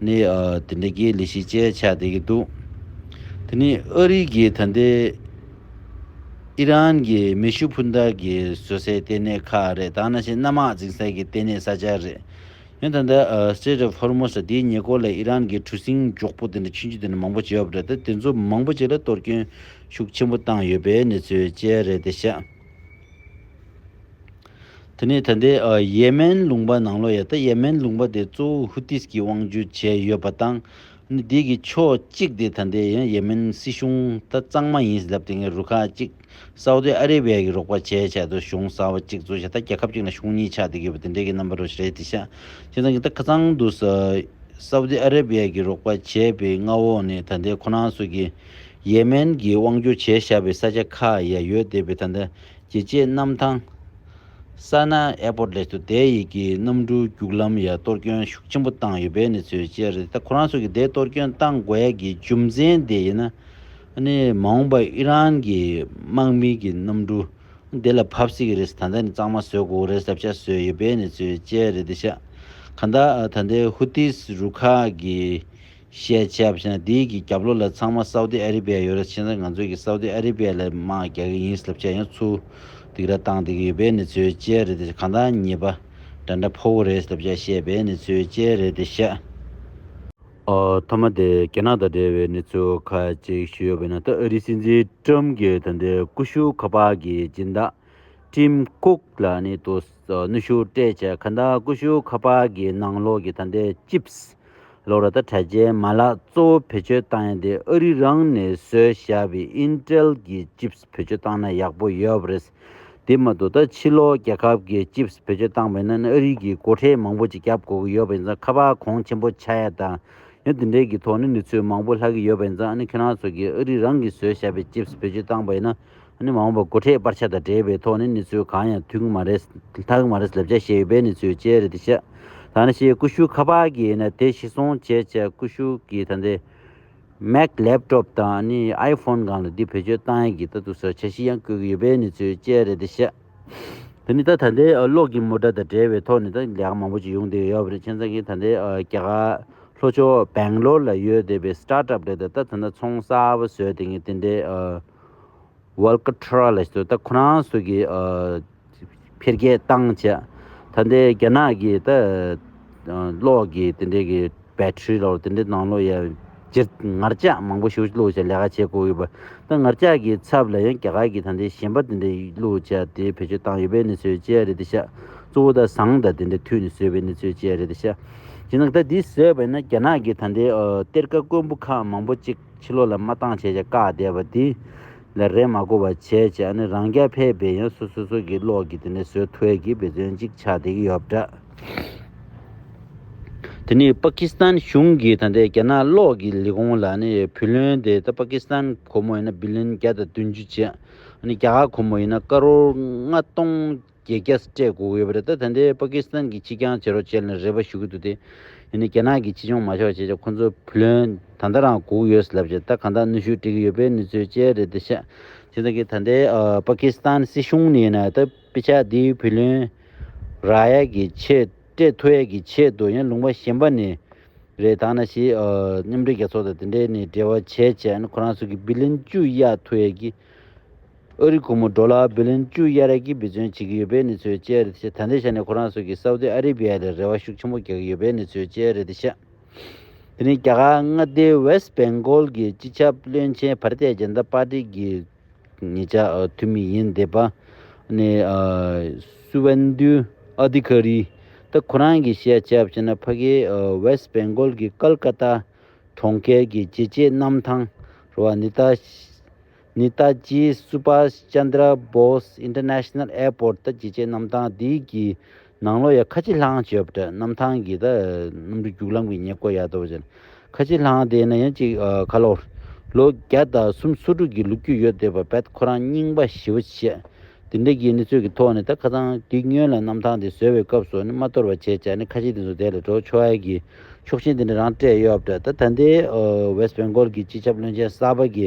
ནས་དེ་འདྲ་གི་ལས་གཞི་བཅས་བྱ་བསྡད་ཀྱི་འདུག་དེ་ནི་ཨ་རི་གིས་ད་ལྟའི་ཨི་རན་གྱི་མེ་ཤུགས་འཕུར་མདའ་གྱི་བཟོ་སའི་ལྟེ་གནས་ཁག་རེད་ད་ནང་བཞིན་གནམ་དམག་འཛིང་སའི་གི་ལྟེ་གནས་ས་ཆ་རེད་ཡང་ད་ལྟ Strait of Hormuz དེའི་ཉེ་སྐོར་ལ་ཨི་རན་གྱི་གྲུ་གཟིངས་མགྱོགས་པོ་དེ་འདྲ་ཆུ་མཇུག་དེ་འདྲ་མང་པོ་བྱས་ཡོད་པ་རེད་དེ་ཚོ་མང་པོ་ཅིག་ལ་གཏོར་སྐྱོན་ཤུགས་ཆེན་པོ་བཏང་ཡོད་པའི་གནས་ཚུལ་བཅས་རེད་དེ་ཤ་དེ་ནས་ད་ལྟའི་ཡེ་མན་ལུང་པ་ནང་ལོ་ཡ་ད་ཡེ་མན་ལུང་པ་དེ་གཙོ་བོ་ཧུ་ཏིས་ཀྱིས་དབང་བསྒྱུར་བྱས་ཡོད་པ་དང། དེ་གི་ཕྱོགས་གཅིག་དེ་ད་ལྟའི་ཡེ་མན་སྲིད་གཞུང་ད་གཙང་མ་ཡིན་ཟླབས་དེ་སྔའི་རུ་ཁག་གཅིག་སའུ་ཏི་ཨ་རི་བྷའི་གི་རོགས་པ་བྱས་བྱས་དུ་གཞུང་ས་བ་གཅིག་གཙོ་བྱས་ད་རྒྱལ་ཁབ་གཅིག་ན་གཞུང་གཉིས་ཆགས་དེ་གི་བ་དེ་འདྲའི་གི་རྣམ་པ་རོ་ཞི་རེད་དེ་ཤ་དེ་ད་གི་ད་ཁ་ཚང་དུ་སའུ་ཏི་ཨ་རི་བྷའི་གི་རོགས་པ་བྱས་པའི་མངའ་འོག་ནས་ད་ལྟའི་ཁོ་རང་སུ་གི་ཡེ་མན་གྱི་དབང་བསྒྱུར་བྱས་བཞག་པའི་ས་ཆ་ཁག་ཡ་ཡོད་སྡེ་བའི་ད་ལྟ་ཀྱི་བཅས་གནམ་ཐང། Sana'a Airport List། དུ་སྡེ་ཡིག་གི་གནམ་གྲུའི་རྒྱུག་ལམ་ཡར་གཏོར་སྐྱོན་ཤུགས་ཆེན་པོ་བཏང་ཡོད་པའི་གནས་ཚུལ་བཅས་རེད་ད་ཁོ་རང་ཚོ་གི་སྡེ་གཏོར་སྐྱོན་བཏང་དགོས་ཡ་གི་རྒྱུ་མཚན་དེ་ཡིན་ན་ནི་མ་འོངས་པར་ཨི་རན་གྱི་དམག་མི་གི་གནམ་གྲུ་སྡེ་ལ་བབས་སྲིད་ཀྱི་རེད་ད་ལྟ་ནི་གཙང་མ་བཟོས་དགོས་གོ་རེད་ཟབ་ཆ་བཟོས་ཡོད་པའི་གནས་ཚུལ་བཅས་རེད་ད་ཤ་ཁ་ད་ད་ལྟའི་ཧུ་ཐིས་རུ་ཁག་གི། ཞེས་བྱས་པ་ཞེ་ན་དེའི་གི་རྒྱབ་ལོ་ལ་ཚང་མ་སའུ་ཏི་ཨ་རི་བྷའི་ཡོད་ར་ཕྱིན་ས་ང་ཚོའི་གི་སའུ་ཏི་ཨ་རི་བྷའི་ལ་དམག་རྒྱག་གི་ཡིན་ལབ་བྱས་ཡོང་ཚུལ་འདིག་ར་བཏང་འདི་གི་ཡོད་བྷའི་ནི་ཚོའི་དཔྱལ་རེད་དེ་གང་ལྟར་ཉེས་པ་འདྲ་འདྲ་ཕོ་བོ་རེད་ལབ་བྱས་བཤད་བྷའི་ནི་ཚོའི་དཔྱལ་རེད་དེ་བཤད། ཨ་ཐ་མ་དེ་རྒྱ་ནག་དང་འབྲེལ་བའི་ནི་ཚོ་ཁ་ཅིག་ཞུ་ཡོད་བྷའི་ན་ད་ཨ་རི་སྲིད་འཛིན་ཀྲམ་གི་ད་འདྲའི་ཀུ་ཤུ་ཁ་པག་གི་སྦྱིན་བདག Tim Cook ལ་ནི་དུ་ནུ་ཤུ་སྤྲད་བྱས་ཁ་འདའ་ཀུ་ཤུ་ཁ་པག་གི་ནང་ལོག་གི་ད་འདྲའི Chips ལོ་རེ་ད་དྲ་རྒྱའི་མ་ལག་གཙོ་བོ་བེད་སྤྱོད་བཏང་ཡ་དེ་ཨ་རི་རང་ནས་བཟོས་བཞག་པའི Intel གྱི Chips བེད་སྤྱོད་བཏང་ན་ཡག་པོ་ཡོད་རེད་དེ་མ་གཏོགས་ད་ཕྱི་ལོ་རྒྱལ་ཁབ་གྱི Chips བེད་སྤྱོད་བཏང་བས་ན་ཨ་རི་གྱི་སྒོ་ཁྲལ་མང་པོ་ཅིག་རྒྱབ་དགོས་ཀྱི་ཡོད་པ་ཡིན་ཙང་ཁ་བ་གོང་ཆེན་པོ་ཆགས་ཡ་དང་ཡང་དེ་འདྲའི་གྱི་ཐོག་ནས་ནུས་ཚོད་མང་པོ་ལྷག་གི་ཡོད་པ་ཡིན་ཙང་ཨ་ནི་ཁྱོད་རང་ཚོ་གྱི་ཨ་རི་རང་གིས་བཟོས་བཞག་པའི Chips བེད་སྤྱོད་བཏང་བས་ན། ནི་མ་འོངས་པར་སྒོ་ཁྲལ་སྤར་ཆ་དང་འབྲེལ་བའི་ཐོག་ནས་ནི་ཚོད་གང་ཡང་ཐུག་གི་མ་རེད། ལྷག་གི་མ་རེད་ལབ་བྱ་ཤེས་ཡོད་པས་ནི་ཚོད་ཅེས་རེད་དེ་བཤད། ད་ནི་ཤེས་ཀུ་ཤུ་ཁ་པར་གྱི་ཡིན་ན་དེ་ཤི་སོང་བྱས་བྱས་ཀུ་ཤུ་གྱི་ད་ལྟའི། Mac Laptop དང་ནི iPhone གང་ལ་འདི་བེད་སྤྱོད་བཏང་ཡག་གི་ད་ཐུག་ཟེར་བྱ་ཤི་ཡང་བཀོད་གི་ཡོད་པས་ནི་ཚོད་ཅེས་རེད་དེ་བཤད། དེ་ནི་ད་ད་ལྟའི་གློག་གི་མུ་དྲ་དང་འབྲེལ་བའི་ཐོག་ནས་ད་ལས་ཀ་མང་པོ་ཅིག་ཡོང་བསྡད་ཡོད་པ་རེད་ཁྱེད་ཚང་གི་ད་ལྟའི་རྒྱ་གར་ལྷོ་ཕྱོགས Bangalore ལ་ཡོད་བསྡད་པའི Startup རེད་དེ་ད་ད་ནི་ཚོང་གསར་བ་བཟོས་དེ་ངས་དེ་འདྲའི། ཝལ་ཀི་ཁྲ་ར་ལ་སོས་ད་ཁོ་རང་སོས་ཀི་འཕེལ་རྒྱས་བཏང་ཆད་ད་འདའི་རྒྱ་ནག་གི་ད་གློག་གི་དེ་འདྲའི་གི་བལ་ཁྲི་ལོ་དེ་འདྲའི་ནང་ལོ་ཡ་ཇི་ངར་ཅག་མང་པོ་ཞུ་ལོ་ཆ་ལས་ཀ་བྱེད་དགོས་ཡོད་པ་ད་ངར་ཅག་གི་ཚབ་ལ་ཡང་རྒྱ་གར་གི་ད་འདའི་གཞན་པ་དེ་འདྲའི་ལོ་ཆ་དེ་བེད་སྤྱོད་བཏང་ཡོད་པའི་ནི་སོས་ཅི་ཡ་རེད་ད་ཤ་གཙོ་བོ་ད་ཟངས་ད་དེ་འདྲའི་དུས་ནི་སོས་པའི་ནི་སོས་ཅི་ཡ་རེད་ད་ཤ་ཇི་ནང་ད་འདི་སོས་པ་ན་རྒྱ་ནག་གི་ད་འདའི་གཏེར་ཁ་དཀོན་པོ་ཁག་མང་པོ་ཅིག། ཕྱི་ལོག་ལ་མ་བཏང་བྱས་བྱས་བཀག་བསྡད་པ་དེ། ལ་རས་མ་བསྐོར་བ་བྱས་བྱས་ཨ་ནི་རང་སྐྱ་ཕས་བེད་ཡོན་སོ་སོ་སོ་གི་ལོག་གི་དེ་ནས་བཟོས་ཐོལ་གི་བེད་སྟོན་ཅིག་ཆགས་བསྡད་ཀྱི་ཡོད་འདྲ། དེ་ནས་པ་ཀི་སི་ཐན་གཞུང་གིས་ད་ལྟའི་རྒྱ་ནག་ལོག་གི་ལས་ཁུངས་ལ་ཨ་ནི་བུ་ལོན་དེ་ད་པ་ཀི་སི་ཐན་གོར་མོ་ཡིན་ན་བི་ལིན་བརྒྱ་དང་བདུན་ཅུ་བྱས། ཨ་ནི་རྒྱ་གར་གོར་མོ་ཡིན་ན་ཀ་རོར་ལྔ་སྟོང། རྒྱལ་རྒྱ་སྤྲད་དགོས་ཡོད་པ་རེད་ད་ད་ནྡའི་པ་ཀི་སི་ཐན་གི་སྤྱི་ཀྱང་བྱེད་རོགས་བྱེད་ལ་རེ་བ་ཞུ་གི་འདུག་དེ་ཡིན་ན་རྒྱ་ནག་གི་སྤྱི་སྐྱོང་མ་ཆོག་བྱས་ཆ་ཁོང་ཚོ་བུ་ལོན་ད་ལྟ་རང་སྒུག་ཡོད་ལབ་བྱས་ད་གང་དག་གནོད་ཤུགས་སྤྲད་གི་ཡོད་པའི་གནས་ཚུལ་བཅས་རེད་ད་ཤ་ཚིག་ད་གི་ད་ནྡའི་པ་ཀི་སི་ཐན་སྲིད་གཞུང་ནས་ཡིན་ན་ད་པི་ཆ་དེ་བུ་ལོན་རག་ཡས་གི་ཆེད་སྤྲད་ཐུ་ཡས་གི་ཆེད་དུ་ཡང་ལུང་པ་གཞན་པ་ནས་རེད་ད་ནྡ་ཞིག་མཉམ་འབྲེལ་རྒྱལ་ཚོགས་དང་དེ་འདྲས་ནས་འབྲེལ་བ་བྱས་བྱས་ཁོ་རང་ཚོ་གི་བི་ལིན་བཅུ་ཡས་ཐུ་ཡས་གི་ཨ་རི་གུང་མོ་སྒྲོ་ལ་བྷི་ལིན་ཅུ་དབྱར་རལ་གྱི་འབི་བརྩོན་བྱེད་ཀྱི་ཡོད་པའི་གནས་ཚུལ་བཅས་རེད་ཤ་ད་འདི་ཤ་ནི་ཁོ་རང་སོགས་ཀྱིས་སའུ་ཏི་ཨ་རི་བྷི་ཡ་ལི་རེ་བ་ཤུགས་ཆེན་པོ་རྒྱག་གི་ཡོད་པའི་གནས་ཚུལ་བཅས་རེད་ཤ་དེ་ནི་རྒྱ་གར་མངའ་སྡེའི West Bengal གྱི་སྤྱི་ཁྱབ་བློན་ཆེན་བྷར་ཏའི་རྒྱལ་མདའ་པར་ཏི་གི་ངེད་ཅག་འཐུས་མི་ཡིན་འདེད་པ་ནི Suvendu Adhikari ད་ཁོ་རང་གིས་ཤ་བྱས་པ་ཤ་ན་ཕ་གི West Bengal གྱི Kolkata གྲོང་ཁྱེར་གྱི་རྒྱལ་གཅེས་གནམ་ཐང་རུ་བ་ནི་ད་ནི་ད་ཅི Subhas Chandra Bose International Airport ད་ཅི་བཅས་གནམ་ཐང་འདི་གི་ནང་ལོ་ཡ་ཁ་ཆེ་ལྷང་བྱོས་པ་དྲ་གནམ་ཐང་གི་ད་གནམ་གྲུ་རྒྱུག་ལམ་གི་ཉེ་བསྐོར་ཡག་དོ་བ་ཅན་ཁ་ཆེ་ལྷང་དེ་ན་ཡ་གཅིག་ཁ་ལོ་ལོ་བརྒྱ་ད་གསུམ་སོ་དྲུག་གི་ལུག་ཁྱུ་ཡོད་དེ་བ་བད་ཁོ་རང་རྙིང་པ་ཞི་བ་བྱས་དེ་འདྲ་གི་ནི་ཚོད་གི་ཐོག་ནི་ད་ཁ་ཚང་གི་སྨྱོན་ལ་གནམ་ཐང་དེ་བཟོས་བའི་སྐབས་སོ་ནི་མ་གཏོར་བ་བྱས་བྱས་ནི་ཁ་ཆེ་དེ་ཚོ་དེ་ལ་འགྲོ་ཆོག་ཡ་གི་ཆོག་ཆེན་དེ་འདྲ་རང་སྤྲད་ཡོད་པ་དྲ་ད་ད་འདི West Bengal གི་སྤྱི་ཁྱབ་བློན་ཆེན་གསར་པ་གི་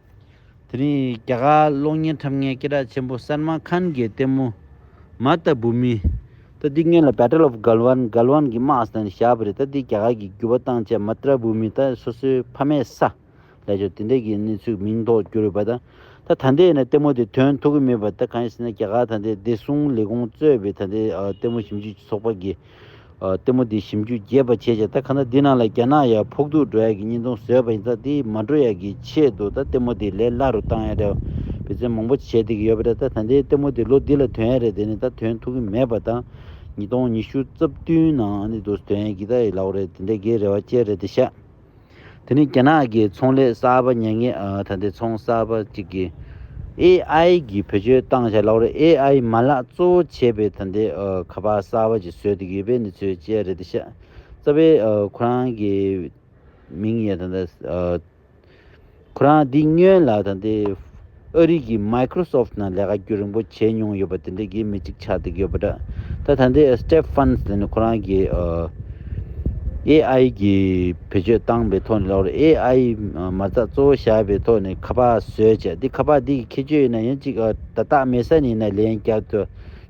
དེ་རིང་རྒྱ་གར་གློག་བརྙན་འཁྲབ་མཁན་སྐེ་གྲགས་ཆེན་པོ་སལ་མཱན་ཁཱན་གྱི་ལྟད་མོ། མཱ་ཏཱ་བུ་མི། ཏཱ་ཏི་ངན་ལ Battle of Galwan Galwan གྱི་དམག་ཟླ་ནི་ཞྭ་བྷི་རི་ཏཱ་ཏི་རྒྱ་གར་གྱི་བརྒྱུད་པ་བཏང་བྱ Matra བུ་མི་དང་སོ་སོའི་ཕ་མའི་ས། ལས་ཆོག་དེ་འདྲས་ཀྱི་གནས་ཚུལ་མིང་ཐོག་བསྒྱུར་ཡོད་པ་དང། ད་ད་ལྟའི་ནས་ལྟད་མོ་དེ་དོན་ཐུག་གི་མེད་པ་དང་གང་ཡིན་ཟེར་ན་རྒྱ་གར་ད་ལྟའི་བདེ་སྲུང་ལས་ཁུངས་གཙོས་པའི་ད་ལྟའི་ལྟད་མོ་ཞིབ་འཇུག་ཚོགས་པ་དགེ་ལྟད་མོ་དེ་ཞིམ་འཇུག་རྒྱས་པ་བྱས་རྗེས་ད་ག་ན་འདི་ན་ལ་རྒྱ་ནག་ཡར་ཕོག་འདུག་འགྲོ་ཡ་གི་གཉིས་སྟོང་ཟོས་པ་ཡིན་ཙང་དེ་མ་འགྲོ་ཡ་གི་ཆེད་དུ་ད་ལྟད་མོ་དེ་ལས་སླ་རུ་བཏང་ཡ་རེད་བུ་ཚན་མང་པོ་བྱས་དེ་གི་ཡོད་པ་རེད་ད་ད་འདི་ལྟད་མོ་དེ་ལོ་འདི་ལ་དོན་ཡ་རེད་དེ་ནི་ད་དོན་ཐུག་གི་མེད་པ་ད་ཉིས་སྟོང་ཉི་ཤུ་རྩ་བདུན་ནང་ཨ་ནི་དུ་དོན་ཡ་གི་ད་ཡི་ལའོ་རེད་དེ་འདྲ་གི་རེ་བ་བཅས་རེད་དེ་ཤ། དེ་ནི་རྒྱ་ནག་གི་ཚོང་ལས་གསར་པ་ཉེ་ངེས་ད་ལྟའི་ཚོང་གསར་པ་གཅིག་གིས AI གི་བེད་སྤྱོད་བཏང་བྱ་ལག་རོགས AI མ་ལག་གཙོ་བོ་བྱས་པའི་ད་ལྟའི་ཁ་པར་གསར་པ་ཅིག་བཟོས་འདུག་ཡོད་པའི་གནས་ཚུལ་བཅས་རེད་དེ་ཤ་ཚ་བས་ཁོ་རང་གི་མིང་ཡང་ད་ལྟ་ཁོ་རང་སྡིག་སྨྱོན་ལགས་དང་དེ་ཨ་རིག་གི Microsoft ནང་ལས་ཀ་རྒྱུ་རིང་པོ་བྱས་མྱོང་ཡོད་པ་དེ་འདྲའི་དགེ་མི་ཅིག་ཆགས་བསྡད་ཡོད་པ་འདྲ་ད་ད་འདི Step Funds དེ་ནི་ཁོ་རང་གི AI གི་བེད་སྤྱོད་བཏང་པའི་ཐོག་ནས་ལོག་རེད AI མ་རྩ་གཙོ་བོ་བཞག་པའི་ཐོག་ནས་ཁ་པར་བཟོས་བྱས་འདི་ཁ་པར་འདི་གི་ཁྱད་ཆོས་ཡིན་ན་ཡང་ཅིག་ད་སྟག་མེ་ས་ནས་ཡིན་ན་ལན་བརྒྱ་དུ།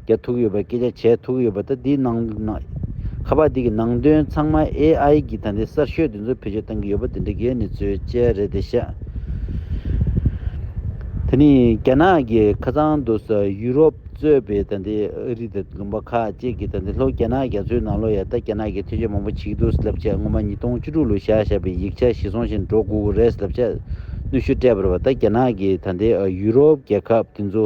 རྒྱ་ཐུག་ཡོད་པ་སྐད་ཆ་བྱས་ཐུག་ཡོད་པ་ད་འདི་ནང་དུ། ཁ་པར་འདི་གི་ནང་དོན་ཚང་མ AI གིས་ད་འདི་གསར་ཤོས་འདི་ཚོ་བེད་སྤྱོད་བཏང་གི་ཡོད་པ་འདི་འདྲ་རྒྱའི་ནི་ཚོའི་དཔྱད་རེད་དེ་ཤ། དེ་ནི་རྒྱ་ནག་གི་ཁ་ཚང་དུ་ས་ཡུ་རོབ་གཙོས་པའི་ད་འདི་ཨ་རི་དང་ལུང་པ་ཁག་ཅིག་གིས་ད་འདི་ལྷོ་རྒྱ་ནག་རྒྱ་མཚོའི་ནང་ལོ་ཡ་ད་རྒྱ་ནག་གི་ཐོས་ཆ་མང་པོ་བྱེད་ཀྱི་འདུག་ཟེར་ལབ་ཆ་སྔོན་མ་ཉིས་སྟོང་བཅུ་དྲུག་ལོ་བཞག་བཞག་པའི་ཡིག་ཆ་ཞིག་སོང་ཞིག་འགྲོ་དགོས་ཀྱི་རེད་ཟེར་ལབ་ཆ་གནོད་ཤུགས་སྤྲད་པར་བ་ད་རྒྱ་ནག་གི་ད་འདི་ཨ་ཡུ་རོབ་རྒྱལ་ཁབ་འདི་ཚོ།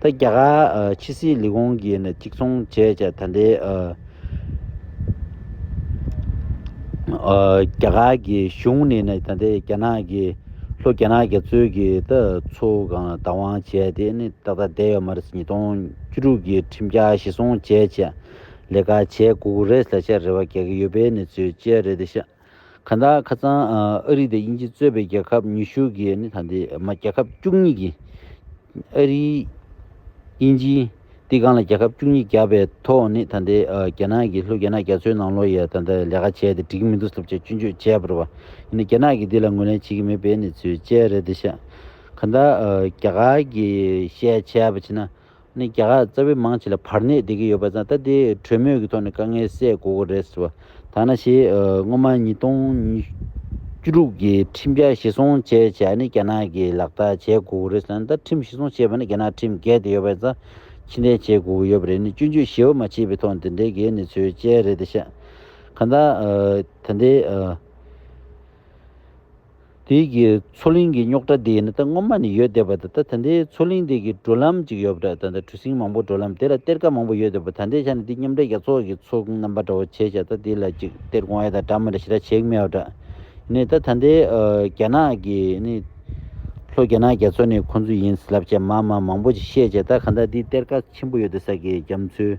ད་རྒྱ་གར་ཕྱི་སྲིད་ལས་ཁུངས་ཀྱིས་ནི་གཅིག་མཚུངས་བྱས་ཀྱང་ད་ལྟའི་རྒྱ་གར་གྱི་གཞུང་ནས་ནི་ད་ལྟའི་རྒྱ་ནག་གི་ལྷོ་རྒྱ་ནག་རྒྱ་མཚོའི་གི་ད་མཚོ་གང་ལ་བདག་དབང་བྱས་ཏེ་ནི་ཏག་ཏག་བསྡད་ཡོད་མ་རེད་ཉིས་སྟོང་བཅུ་དྲུག་གི་ཁྲིམས་འཆར་གཞི་བཟུང་བྱས་བྱས་ལས་ཀ་བྱས་དགོས་ཀྱི་རེད་ལ་བྱ་རེ་བ་རྒྱག་གི་ཡོད་པའི་ནི་ཚུལ་བཅས་རེད་ཤག། ཁ་འདའ་ཁ་ཚང་ཨ་རི་དང་དབྱིན་ཇི་གཙོས་པའི་རྒྱལ་ཁབ་ཉི་ཤུ་གིས་ནི་ད་ལྟའི་མ་རྒྱལ་ཁབ་བཅུ་གཉིས་ཀྱི། ཨ་རི། དབྱིན་ཇི། སྟི་ཀང་ལ་རྒྱལ་ཁབ་བཅུ་གཉིས་བརྒྱབ་པའི་ཐོག་ནི་ད་ལྟའི་རྒྱ་ནག་གིས་ལྷོ་རྒྱ་ནག་རྒྱ་མཚོའི་ནང་ལོ་ཡས་ད་ལྟ་ལས་ཀ་བྱས་ཏེ་འགྲིག་གི་མི་འདུག་ཟབ་ཆ་གཅུན་གཅོད་བྱས་པར་བ་ཡིན་ན་རྒྱ་ནག་གིས་འདི་ལ་ངོས་ལེན་བྱེད་ཀྱི་མེད་པའི་ནི་ཚུལ་དཔྱད་རེད་འདི་ཤག་ཁ་འདའ་རྒྱ་གར་གྱིས་བཤད་བྱས་པ་བྱེད་ན། ནས་རྒྱ་གར་རྩ་བའི་མང་ཆེ་ལ་བར་གནས་བསྡད་ཀྱི་ཡོད་པ་ཙང་ད་ལྟའི་གྲོས་མོལ་གྱི་ཐོག་ནས་དཀའ་ངལ་སེལ་དགོས་ཀྱི་རེད་ཟེར་བ་ཐ་ན་ཞེས་སྔོན་མ་ཉིས་སྟོང་ཉི་བཅུ་དྲུག་གི་ཁྲིམས་རྒྱ་བཞི་སྲོང་བྱས་བྱས་ནས་རྒྱ་ནག་གིས་ལག་བསྟར་བྱས་དགོས་ཀྱི་རེད་ཟེར་ན་ད་ཁྲིམས་བཞི་སྲོང་བྱས་པ་ནི་རྒྱ་ནག་ཁྲིམས་འགལ་དེ་ཡོད་པ་ཙང་ཕྱི་འཐེན་བྱེད་དགོས་ཀྱི་ཡོད་པ་རེད་ནི་སྤྱོད་འཇུག་ཞི་བ་མ་བྱས་པའི་ཐོག་འདི་འདྲའི་གེགས་ནི་ཚོའི་དཔྱད་རེད་དེ་ཤ་ག་ད་ད་ལྟའི་དེའི་མཚོ་གླིང་གི་རྙོག་དྲ་དེ་ནི་ད་སྔོན་མ་ནས་ཡོད་བསྡད་པ་དང་ད་ད་འདི་མཚོ་གླིང་དེ་གའི་འགྲོ་ལམ་ཅིག་ཡོད་པ་འདྲ་ད་ད་གྲུ་གཟིངས་མང་པོ་འགྲོ་ལམ་དེ་ལ་གཏེར་ཁ་མང་པོ་ཡོད་བསྡད་པ་ད་འདི་ཆ་ནས་འདི་མཉམ་འབྲེལ་རྒྱ་མཚོ་གི་མཚོ་ཁུངས་རྣམ་པ་འདྲ་བོ་བྱས་བྱས་ད་འདི་ལ་ཅིག་གཏེར་སྒོང་ཨེ་དང་འདྲ་མི་འདྲ་ཞེ་དྲག་བྱེད་ཀྱི་མེད་བ་འདྲ། ནི་ད་ད་འདི་རྒྱ་ནག་གི་ནི། ལྷོ་རྒྱ་ནག་རྒྱ་མཚོ་ནི་ཁོང་ཚོའི་ཡིན་ལབ་བྱས་མ་མ་མང་པོ་ཅིག་བཤད་བྱས་ད་ག་འདྲ་འདི་གཏེར་ཁ་ཆེན་པོ་ཡོད་བསྡད་ས་གི་རྒྱ་མཚོའི